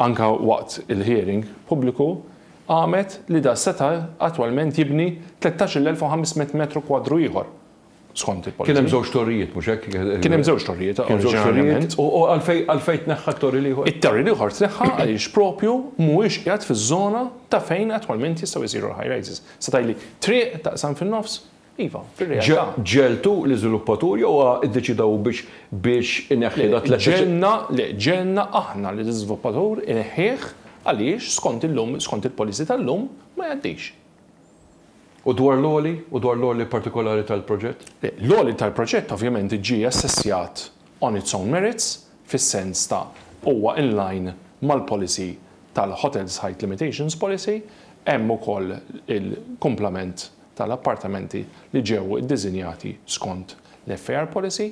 anke waqt il-hearing pubbliku, qamet li da seta' attwalment jibni 13,500 metru kwadru ieħor, skont il-Policy. Kien hemm żewġ torrijiet, mhux hekk? Kien hemm żewġ torrijiet oriġinarjament. U għalfejn tneħħa t-torri l-ieħor? It-torri l-ieħor tneħħa għaliex proprju mhuwiex qiegħed fiż-żona ta' fejn attwalment jistgħu jsiru l-high rises. Seta' jli triq taqsam fin-nofs Iva, fir-realtà. Ġegħeltu l-iżviluppatur jew huwa ddeċieda hu biex biex ineħħi dak l-eċċe-. Le, ġegħelna, le, ġegħelna aħna li l-iżviluppatur ineħħih għaliex skont illum, skont il-policy tal-lum ma jgħaddix. U dwar l-għoli? U dwar l-għoli partikolari tal-proġett? Le, l-għoli tal-proġett ovvjament iġġie assessjat on its own merits, fis-sens ta' huwa in line mal-policy tal-Hotels Height Limitations Policy, hemm ukoll il-kumplament tal-appartamenti li ġew iddiżinjati skont l-FAR policy.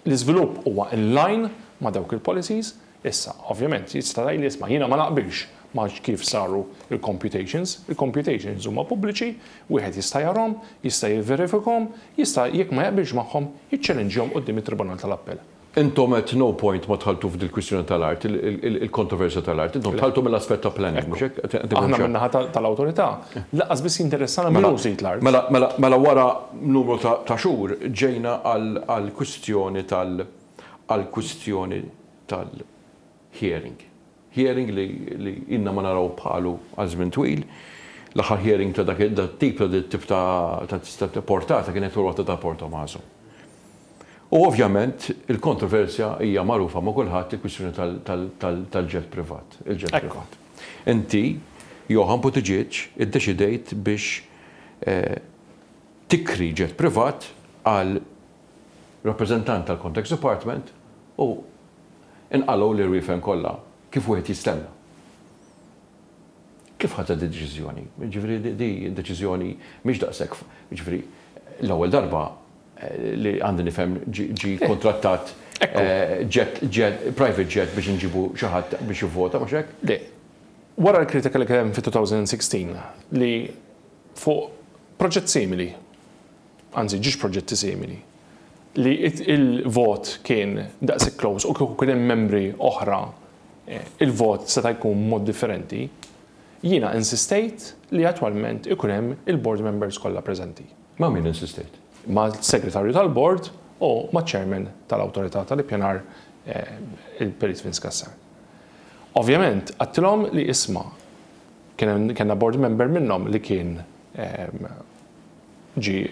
L-iżvilupp huwa in line ma' dawk il-policies. Issa, ovvjament, jista' tgħidli isma' jiena ma naqbilx ma' kif saru l-computations. Il-computations huma pubbliċi, wieħed jista' jarahom, jista' jivverifikahom, jista' jekk ma jaqbilx magħhom jiċċelenġjahom quddiem it-Tribunal tal-Appell. Intom at no point ma dħaltu f'dil-kwistjoni tal-art, il-kontroversja tal-art. Intom dħaltu mill-aspett ta' planning, mhux hekk? Ekku. Aħna min-naħa tal-Awtorità lanqas biss jinteressana min hu sid l-art. Mela, mela, mela wara numru ta' ta' xhur ġejna għall-kwistjoni tal-, għall-kwistjoni tal-, hearing. Hearing li ilna ma naraw bħalu għal żmien twil. L-aħħar hearing ta' dak it-tip ta' dik it-tip ta' portata kienet ir-rotta ta' Port Tommaso. U ovvjament il-kontroversja hija magħrufa ma' kulħadd il-kwistjoni tal-ġett privat, il-ġett privat. Inti, Johann Buttigieg, iddeċidejt biex tikri ġett privat għal rappreżentant tal-Context Department u Inqalgħu l-irwiefen kollha, kif wieħed jistenna. Kif ħadtha din id-deċiżjoni? Jiġifieri di deċiżjoni mhix daqshekk f-, jiġifieri l-ewwel darba li għandi nifhem ġie kkuntrattat jet, jet, private jet biex inġibu xi ħadd biex jivvota, mhux hekk? Le. Wara l-kritika li kien hemm fi 2016 li fuq proġett simili, anzi ġiex proġetti simili, li l-vot kien daqshekk close u kieku kien hemm membri oħra l-vot seta' jkun b'mod differenti, jiena insistejt li attwalment ikun hemm il-board members kollha preżenti. Ma' min insistejt? Mas-Segretarju tal-Bord u maċ-Chairman tal-Awtorità tal-Ippjanar il-Perit Vince Cassar. Ovvjament għedtilhom li isma' kellna board member minnhom li kien Ġie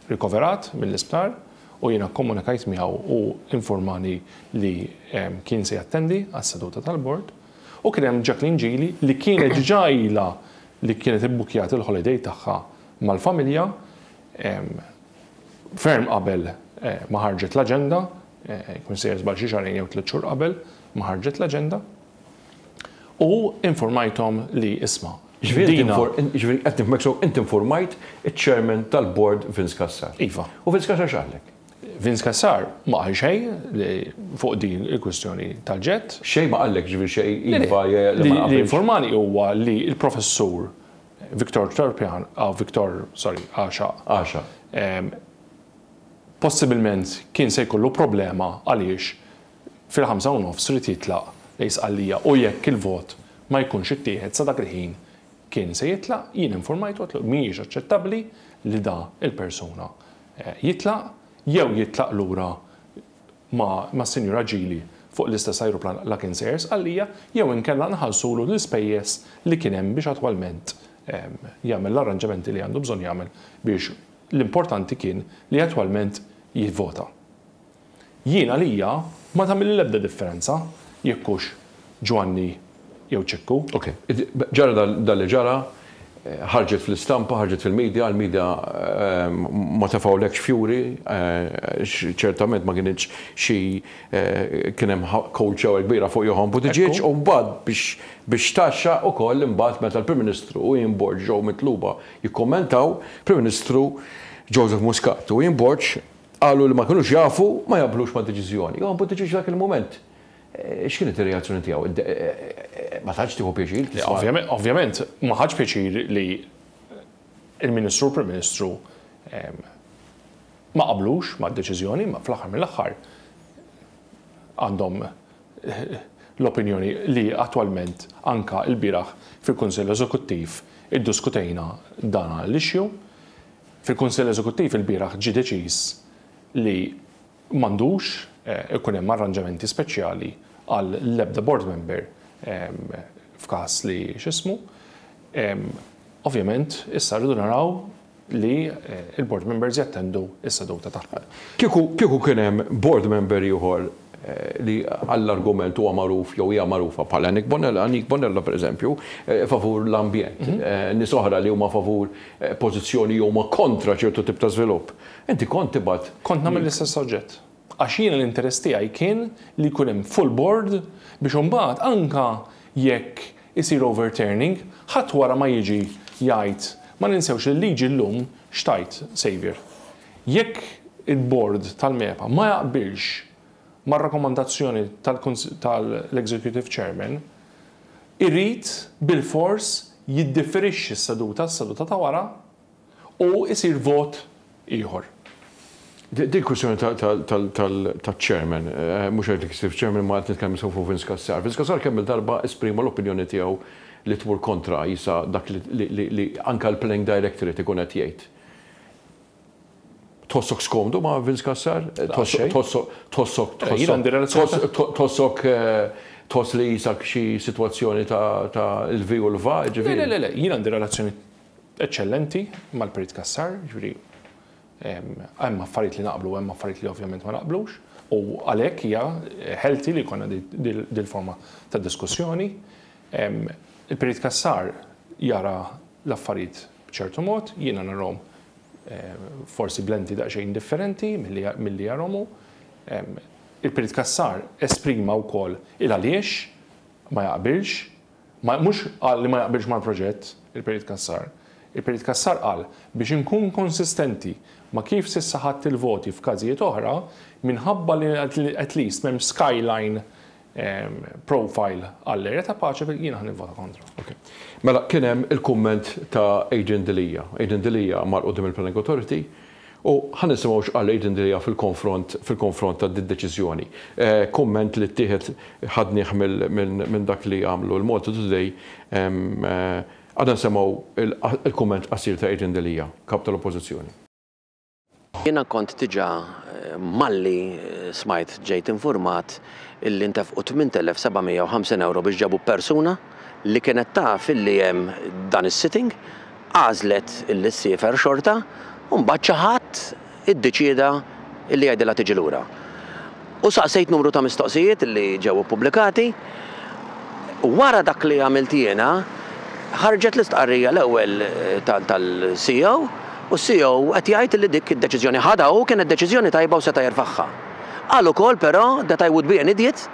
rikoverat mill-isptar u jiena kkomunikajt miegħu u infurmani li kien se jattendi għas-seduta tal-Bord u kien hemm Jacqueline Gili li kienet diġà ilha li kienet ibbukkjat il-holiday tagħha mal-familja ferm qabel ma ħarġet l-aġenda, jkun sejjer żball xi xahrejn jew tliet xhur qabel ma ħarġet l-aġenda. u infurmajthom li, isma', dina. Jiġifieri qed nifhmek sew, inti nfurmajt iċ-Chairman tal-Bord Vince Cassar. Iva. U Vince Cassar x'qallek? Vince Cassar ma qal xejn fuq din il-kwistjoni tal-ġett. Xejn ma qallek, jiġifieri xejn iva jew le ma qbilx? Li informani huwa li l-Professur Victor Turpian, Victor, sorry, Għaxaq. Għaxaq. Possibilment kien se jkollu problema għaliex fil-ħamsa u nofs ried jitlaq lejn Sqallija u jekk il-vot ma jkunx ittieħed sa dak il-ħin kien se jitlaq, jien infurmajtu għedtlu mhijiex aċċettabbli li da il-persuna jitlaq, jew jitlaq lura ma mas-Sinjura Ġili fuq l-istess ajruplan la kien sejjer Sqallija, jew inkella nħallsulu l-ispejjeż li kien hemm biex attwalment jagħmel l-arranġamenti li għandu bżonn jagħmel biex l-importanti kien li attwalment jivvota. Jien għalija ma tagħmilli l-ebda differenza jekk hux Ġwanni jew Ċikku. Ok. Ġara dak li ġara, ħarġet fl-istampa, ħarġet fil-media, l-media ma tefgħulekx fjuri, għax ċertament ma kinitx xi kien hemm kowċewa kbira fuq Johann Buttigieg u mbagħad biex tgħaxxa ukoll imbagħad meta l-Prim Ministru u Ian Borg ġew mitluba jikkummentaw, Prim Ministru Joseph Muscat u Ian Borg Qalu li ma kinux jafu, ma jaqblux mad-deċiżjoni. Johann Buttiġieġ dak il-mument x'kienet ir-reazzjoni tiegħu? Ma tantx tieħu pjaċir tisma'. Le, ovvjament ma ħadx pjaċir li l-Ministru u l-Prim Ministru ma qablux mad-deċiżjoni, imma fl-aħħar mill-aħħar għandhom l-opinjoni li attwalment anke lbieraħ fil-Kunsill Eżekuttiv iddiskutejna dan l-issue. Fil-Kunsill Eżekuttiv ilbieraħ ġie deċiż li m'għandux ikun hemm arranġamenti speċjali għal l-ebda board member f'każ li x'ismu. Ovvjament issa rridu naraw li l-board members jattendu s-seduta tagħhom. Kieku kieku kien hemm board member ieħor li għall-argument huwa magħruf jew hija magħrufa bħala Anik Bonella, Anik Bonella pereżempju, favur l-ambjent, nies oħra li huma favur pożizzjoni jew huma kontra ċertu tip ta' żvilupp. Inti kont tibgħat. Kont nagħmel l-istess oġġett. Għax jiena l-interess tiegħi kien li jkun hemm full board biex imbagħad anke jekk isir overturning, ħadd wara ma jiġi jgħid, ma ninsewx li l-liġi llum x'tgħid, Saviour? Jekk il-Bord tal-MEPA ma jaqbilx mar-rakkomandazzjoni tal-Executive Chairman, irid bilfors jiddifferixxi s-seduta għas-seduta ta' wara u jsir vot ieħor. Din kwistjoni taċ-Chairman, mhux Executive Chairman imma qed nitkellem issa fuq Vince Cassar. Vince Cassar kemm-il darba esprima l-opinjoni tiegħu li tmur kontra qisha dak li anke l-Planning Directorate ikun qed jgħid. Tħossok skomdu ma' Vince Cassar? Tħossok, tħossok, tħossok, tħossok, tħoss li jisak xi sitwazzjoni ta' il-vi u l-va, ġifieri. Le, le, le, jien għandi relazzjoni eċċellenti mal-Perit Cassar, ġifieri hemm affarijiet li naqblu u hemm affarijiet li ovvjament ma naqblux, u għalhekk hija healthy li jkollna dil-forma ta' diskussjoni. Il-Perit Cassar jara l-affarijiet B'ċertu mod, jiena narahom forsi b'lenti daqsxejn differenti milli jarahom hu. Il-Perit Cassar esprima wkoll il-għaliex ma jaqbilx, mhux qal li ma jaqbilx mal-proġett il-Perit Cassar. Il-Perit Cassar qal, biex inkun konsistenti ma' kif s'issa ħadt il-voti f'każijiet oħra, minħabba li at least m'hemmx skyline profile għall-area ta' paċi jiena ħa nivvota kontra. Okay. Mela kien hemm il-kumment ta' Adrian Delia. Adrian Delia mar qudiem il-Planning Authority u ħa nisimgħu x'qal Adrian Delia fil-konfront fil-konfront ta' d-deċiżjoni. Kumment li ttieħed ħadnieh minn dak li għamlu l-Malta Today għadna nsemgħu il-kumment qasir ta' Adrian Delia, Kap tal-Oppożizzjoni. Jiena kont diġà malli smajt ġejt infurmat illi ntefqu 8,750 ewro biex ġabu persuna li kienet taf illi hemm dan is-sitting, għażlet illi ssiefer xorta u mbagħad xi ħadd iddeċieda illi jgħidilha tiġi lura. u saqsejt numru ta' mistoqsijiet li ġew ippubblikati. Wara dak li għamilt jiena, ħarġet l-istqarrija l-ewwel tal-CEO u s-CEO qed jgħid li dik id-deċiżjoni ħadha hu kienet deċiżjoni tajba u seta' jerfagħha. Qal ukoll però that I would be an idiot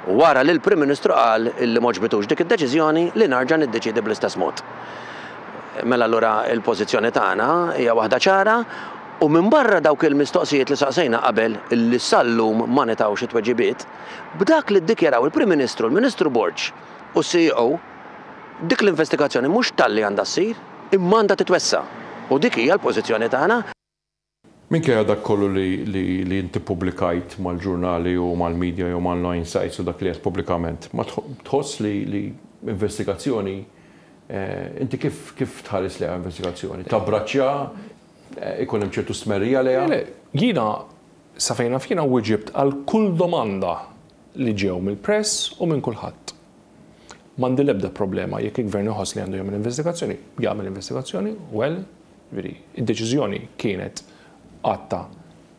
wara li l-Prim Ministru qal li m'għoġbitux dik id-deċiżjoni li narġa' niddeċiedi bl-istess mod. Mela allura l-pożizzjoni tagħna hija waħda ċara, U minbarra dawk il-mistoqsijiet li saqsejna qabel li sal-lum ma ngħtawx it-tweġibiet, b'dak li ddikjaraw il-Prim Ministru, l-Ministru Borg u s-CEO, dik l-investigazzjoni mhux talli għandha ssir, imma għandha titwessa'. U dik hija l-pożizzjoni tagħna. Minkejja dak kollu li int ippubblikajt mal-ġurnali u mal-media jew mal-online sites u dak li għedt pubblikament, ma tħoss li investigazzjoni, inti kif tħares lejha investigazzjoni? Tabbraċċja? ikun hemm ċertu stmerrija lejha. Le, jiena, sa fejn naf jiena wieġibt għal kull domanda li ġew mill-press u minn kulħadd. M'għandi l-ebda problema jekk il-Gvern iħoss li għandu jagħmel investigazzjoni, jagħmel investigazzjoni, well, jiġifieri, id-deċiżjoni kienet għadta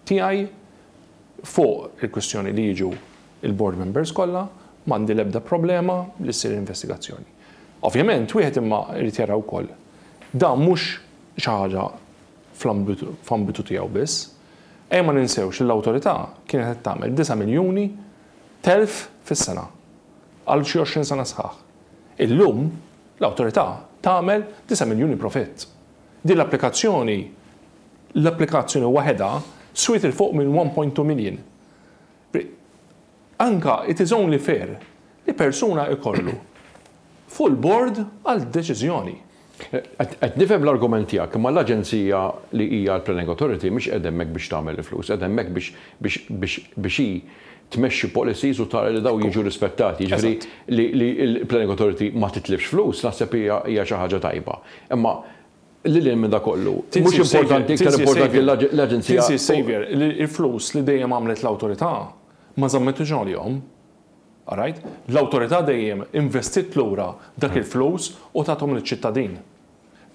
tiegħi fuq il-kwistjoni li jiġu l-board members kollha, m'għandi l-ebda problema li ssir investigazzjoni. Ovvjament, wieħed imma jrid jara wkoll, dan mhux xi ħaġa fl-ambitu tiegħu biss. Ejja ma ninsewx li l-Awtorità kienet qed tagħmel disa' miljuni telf fis-sena għal xi għoxrin sena sħaħ. Illum l-Awtorità tagħmel disa' miljuni profitt. Din l-applikazzjoni, l-applikazzjoni waħedha swiet 'il fuq minn one point two million. Anke it is only fair li persuna jkollu full board għal deċiżjoni. Qed nifhem l-argument tiegħek, imma l-aġenzija li hija l-planning authority mhix qiegħda hemmhekk biex tagħmel il-flus, qiegħda hemmhekk biex hi tmexxi policies u tara li dawn jiġu rispettati. Jiġifieri li l-planning authority ma titlifx flus naħseb hija xi ħaġa tajba. Imma Lil hinn minn dak kollu, mhux importanti, iktar importanti l-Aġenzija. Tinsiex, Saviour, li l-flus li dejjem għamlet l-Awtorità ma żammettux għalihom. Alright? L-Awtorità dejjem investiet lura dak il-flus u tathom liċ-ċittadin.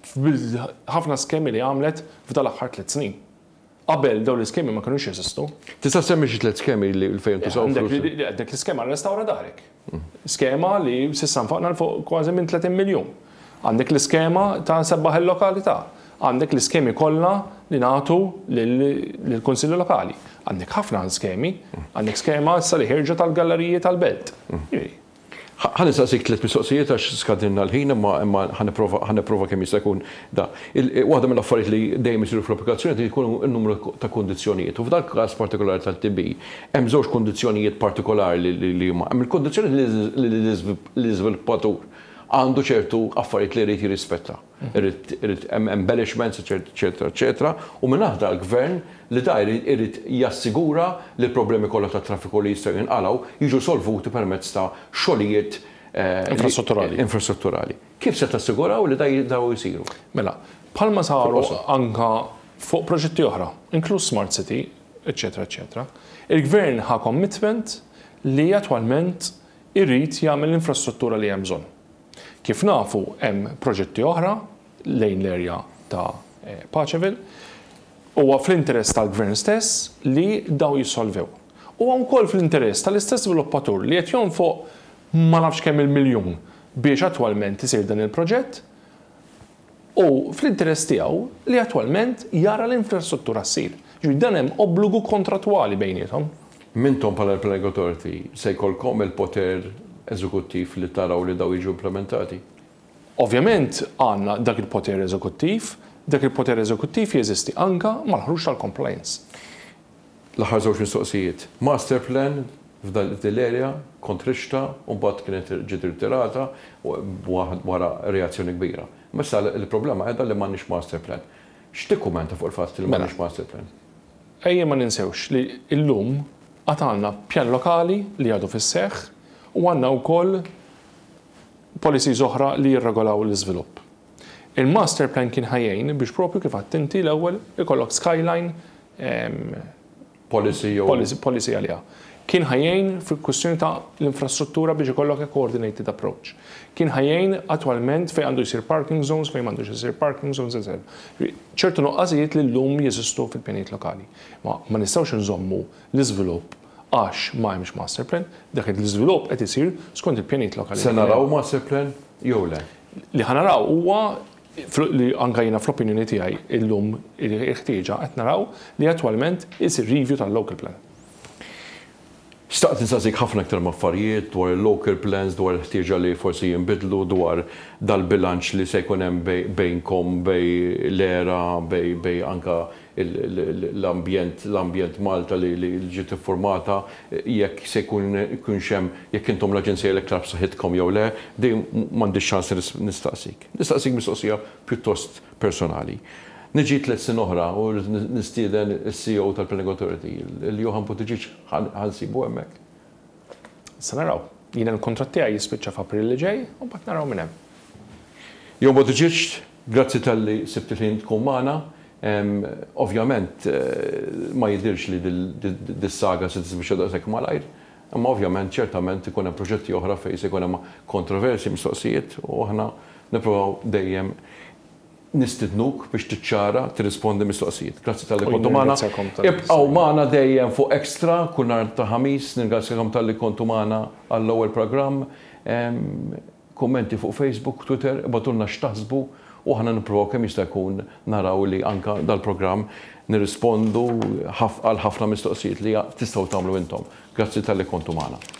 F'ħafna skemi li għamlet f'dan l-aħħar tliet snin. Qabel dawn l-iskemi ma kinux jeżistu. Tista' ssemmi xi tliet skemi li fejn intużaw flus? Għandek l-iskema Restawra Darek. Skema li s'issa nfaqna 'l fuq kważi minn 30 miljun. Għandek l-iskema ta' Sebbaħ il-Lokalità. Għandek l-iskemi kollha li nagħtu lill-Kunsilli Lokali. Għandek ħafna skemi. Għandek skema issa li ħierġet għall-galleriji tal-belt. Ħa nistaqsik tliet mistoqsijiet għax skadinna l-ħin imma imma ħa nipprova ħa nipprova kemm jista' jkun da. Il waħda mill-affarijiet li dejjem isiru fl-applikazzjoni qed ikunu n-numru ta' kundizzjonijiet u f'dal-każ partikolari tat-TB hemm żewġ kundizzjonijiet partikolari li li li huma hemm il-kundizzjoni li li l-iżviluppatur għandu ċertu affarijiet li jrid jirrispetta. irid hemm embellishments eċċetera eċċetera u minn aħdar Gvern li da jrid jassigura li l-problemi kollha tat-traffiku li jistgħu jinqalgħu jiġu solvuti permezz ta' xogħlijiet infrastrutturali. Kif se tassiguraw li dawn isiru? Mela, bħalma saru anke fuq proġetti oħra, inkluż Smart City eċċetera eċċetera, il-Gvern ħa commitment li attwalment irid jagħmel l-infrastruttura li hemm bżonn. Kif nafu hemm proġetti oħra lejn l-erja ta' Paceville. Huwa fl-interess tal-Gvern stess li dawn jissolvew. Huwa wkoll fl-interess tal-istess żviluppatur li qed jonfoq ma nafx kemm-il miljun biex attwalment isir dan il-proġett, Hu fl-interess tiegħu li attwalment jara l-infrastruttura ssir. Jiġifieri dan hemm obbligu kontrattwali bejniethom. Intom bħala l-Planning Authority se jkollkom il-poter eżekuttiv li taraw li dawn jiġu implimentati? Ovvjament għandna dak il-poter eżekuttiv. Dak il-poter eżekuttiv jeżisti anke mal-ħruġ tal-compliance. L-aħħar żewġ mistoqsijiet. Master plan f'din l-area kont rixtha u mbagħad kienet ġiet irritirata wara reazzjoni kbira. Imma issa l-problema qiegħda li m'għandniex master plan. X'tikkumenta fuq il-fatt li m'għandniex master plan? Mela, ejja ma ninsewx li llum għad għandna pjan lokali li għadu fis-seħħ u għandna wkoll policies oħra li jirregolaw l-iżvilupp. Il-master plan kien ħa jgħin biex proprju kif għidt inti l-ewwel ikollok skyline policy jew. Policy għaliha. Kien ħa jgħin fil-kwistjoni ta' l-infrastruttura biex ikollok a coordinated approach. Kien ħa jgħin attwalment fejn għandu jsir parking zones, fejn m'għandux isir parking zones, eċetera. Ċertu nuqqasijiet li llum jeżistu fil-pjanijiet lokali. Imma ma nistgħux inżommu l-iżvilupp għax ma hemmx master plan, dak qed l-iżvilupp qed isir skont il-pjanijiet lokali. Se naraw master plan jew le? Li ħa naraw huwa li anke jiena fl-opinjoni tiegħi llum il-ħtieġa qed naraw li attwalment isir review tal-local plan. Xtaqt insaqsik ħafna iktar m'affarijiet dwar il-local plans, dwar il-ħtieġa li forsi jinbidlu, dwar dal-bilanċ li se jkun hemm bejnkom, bejn l-era, bejn anke l-ambjent Malta li ġiet iffurmata, jekk se jkun jkunx hemm, jekk intom l-aġenzija l-iktar b'saħħitkom jew le, dejjem m'għandix ċans nistaqsik. Nistaqsik mistoqsija pjuttost personali. Niġi tliet snin oħra u rrid nistieden is-CEO tal-Planning Authority, il-Johan Buttigieg, ħa nsibu hemmhekk? Se naraw. Jiena l-kuntratt tiegħi jispiċċa f'April li ġej u mbagħad naraw minn hemm. Johan Buttigieg, grazzi talli sibt il-ħin tkun magħna. Ovvjament ma jidhirx li dis-saga se tispiċċa daqshekk malajr. Imma ovvjament, ċertament ikun hemm proġetti oħra fejn se jkun hemm kontroversji, mistoqsijiet, u aħna nippruvaw dejjem nistidnuk biex tiċċara, tirrispondi mistoqsijiet. Grazzi talli kontu magħna. Ibqgħu magħna dejjem fuq Extra kull nhar ta' Ħamis. Nirringrazzjakom talli kontu magħna għall-ewwel programm. Kummenti fuq Facebook, Twitter, ibgħatulna x'taħsbu u aħna nipprovaw kemm jista' jkun naraw li anke dal-programm nirrispondu għal ħafna mistoqsijiet li tistgħu tagħmlu intom. Grazzi talli kontu magħna.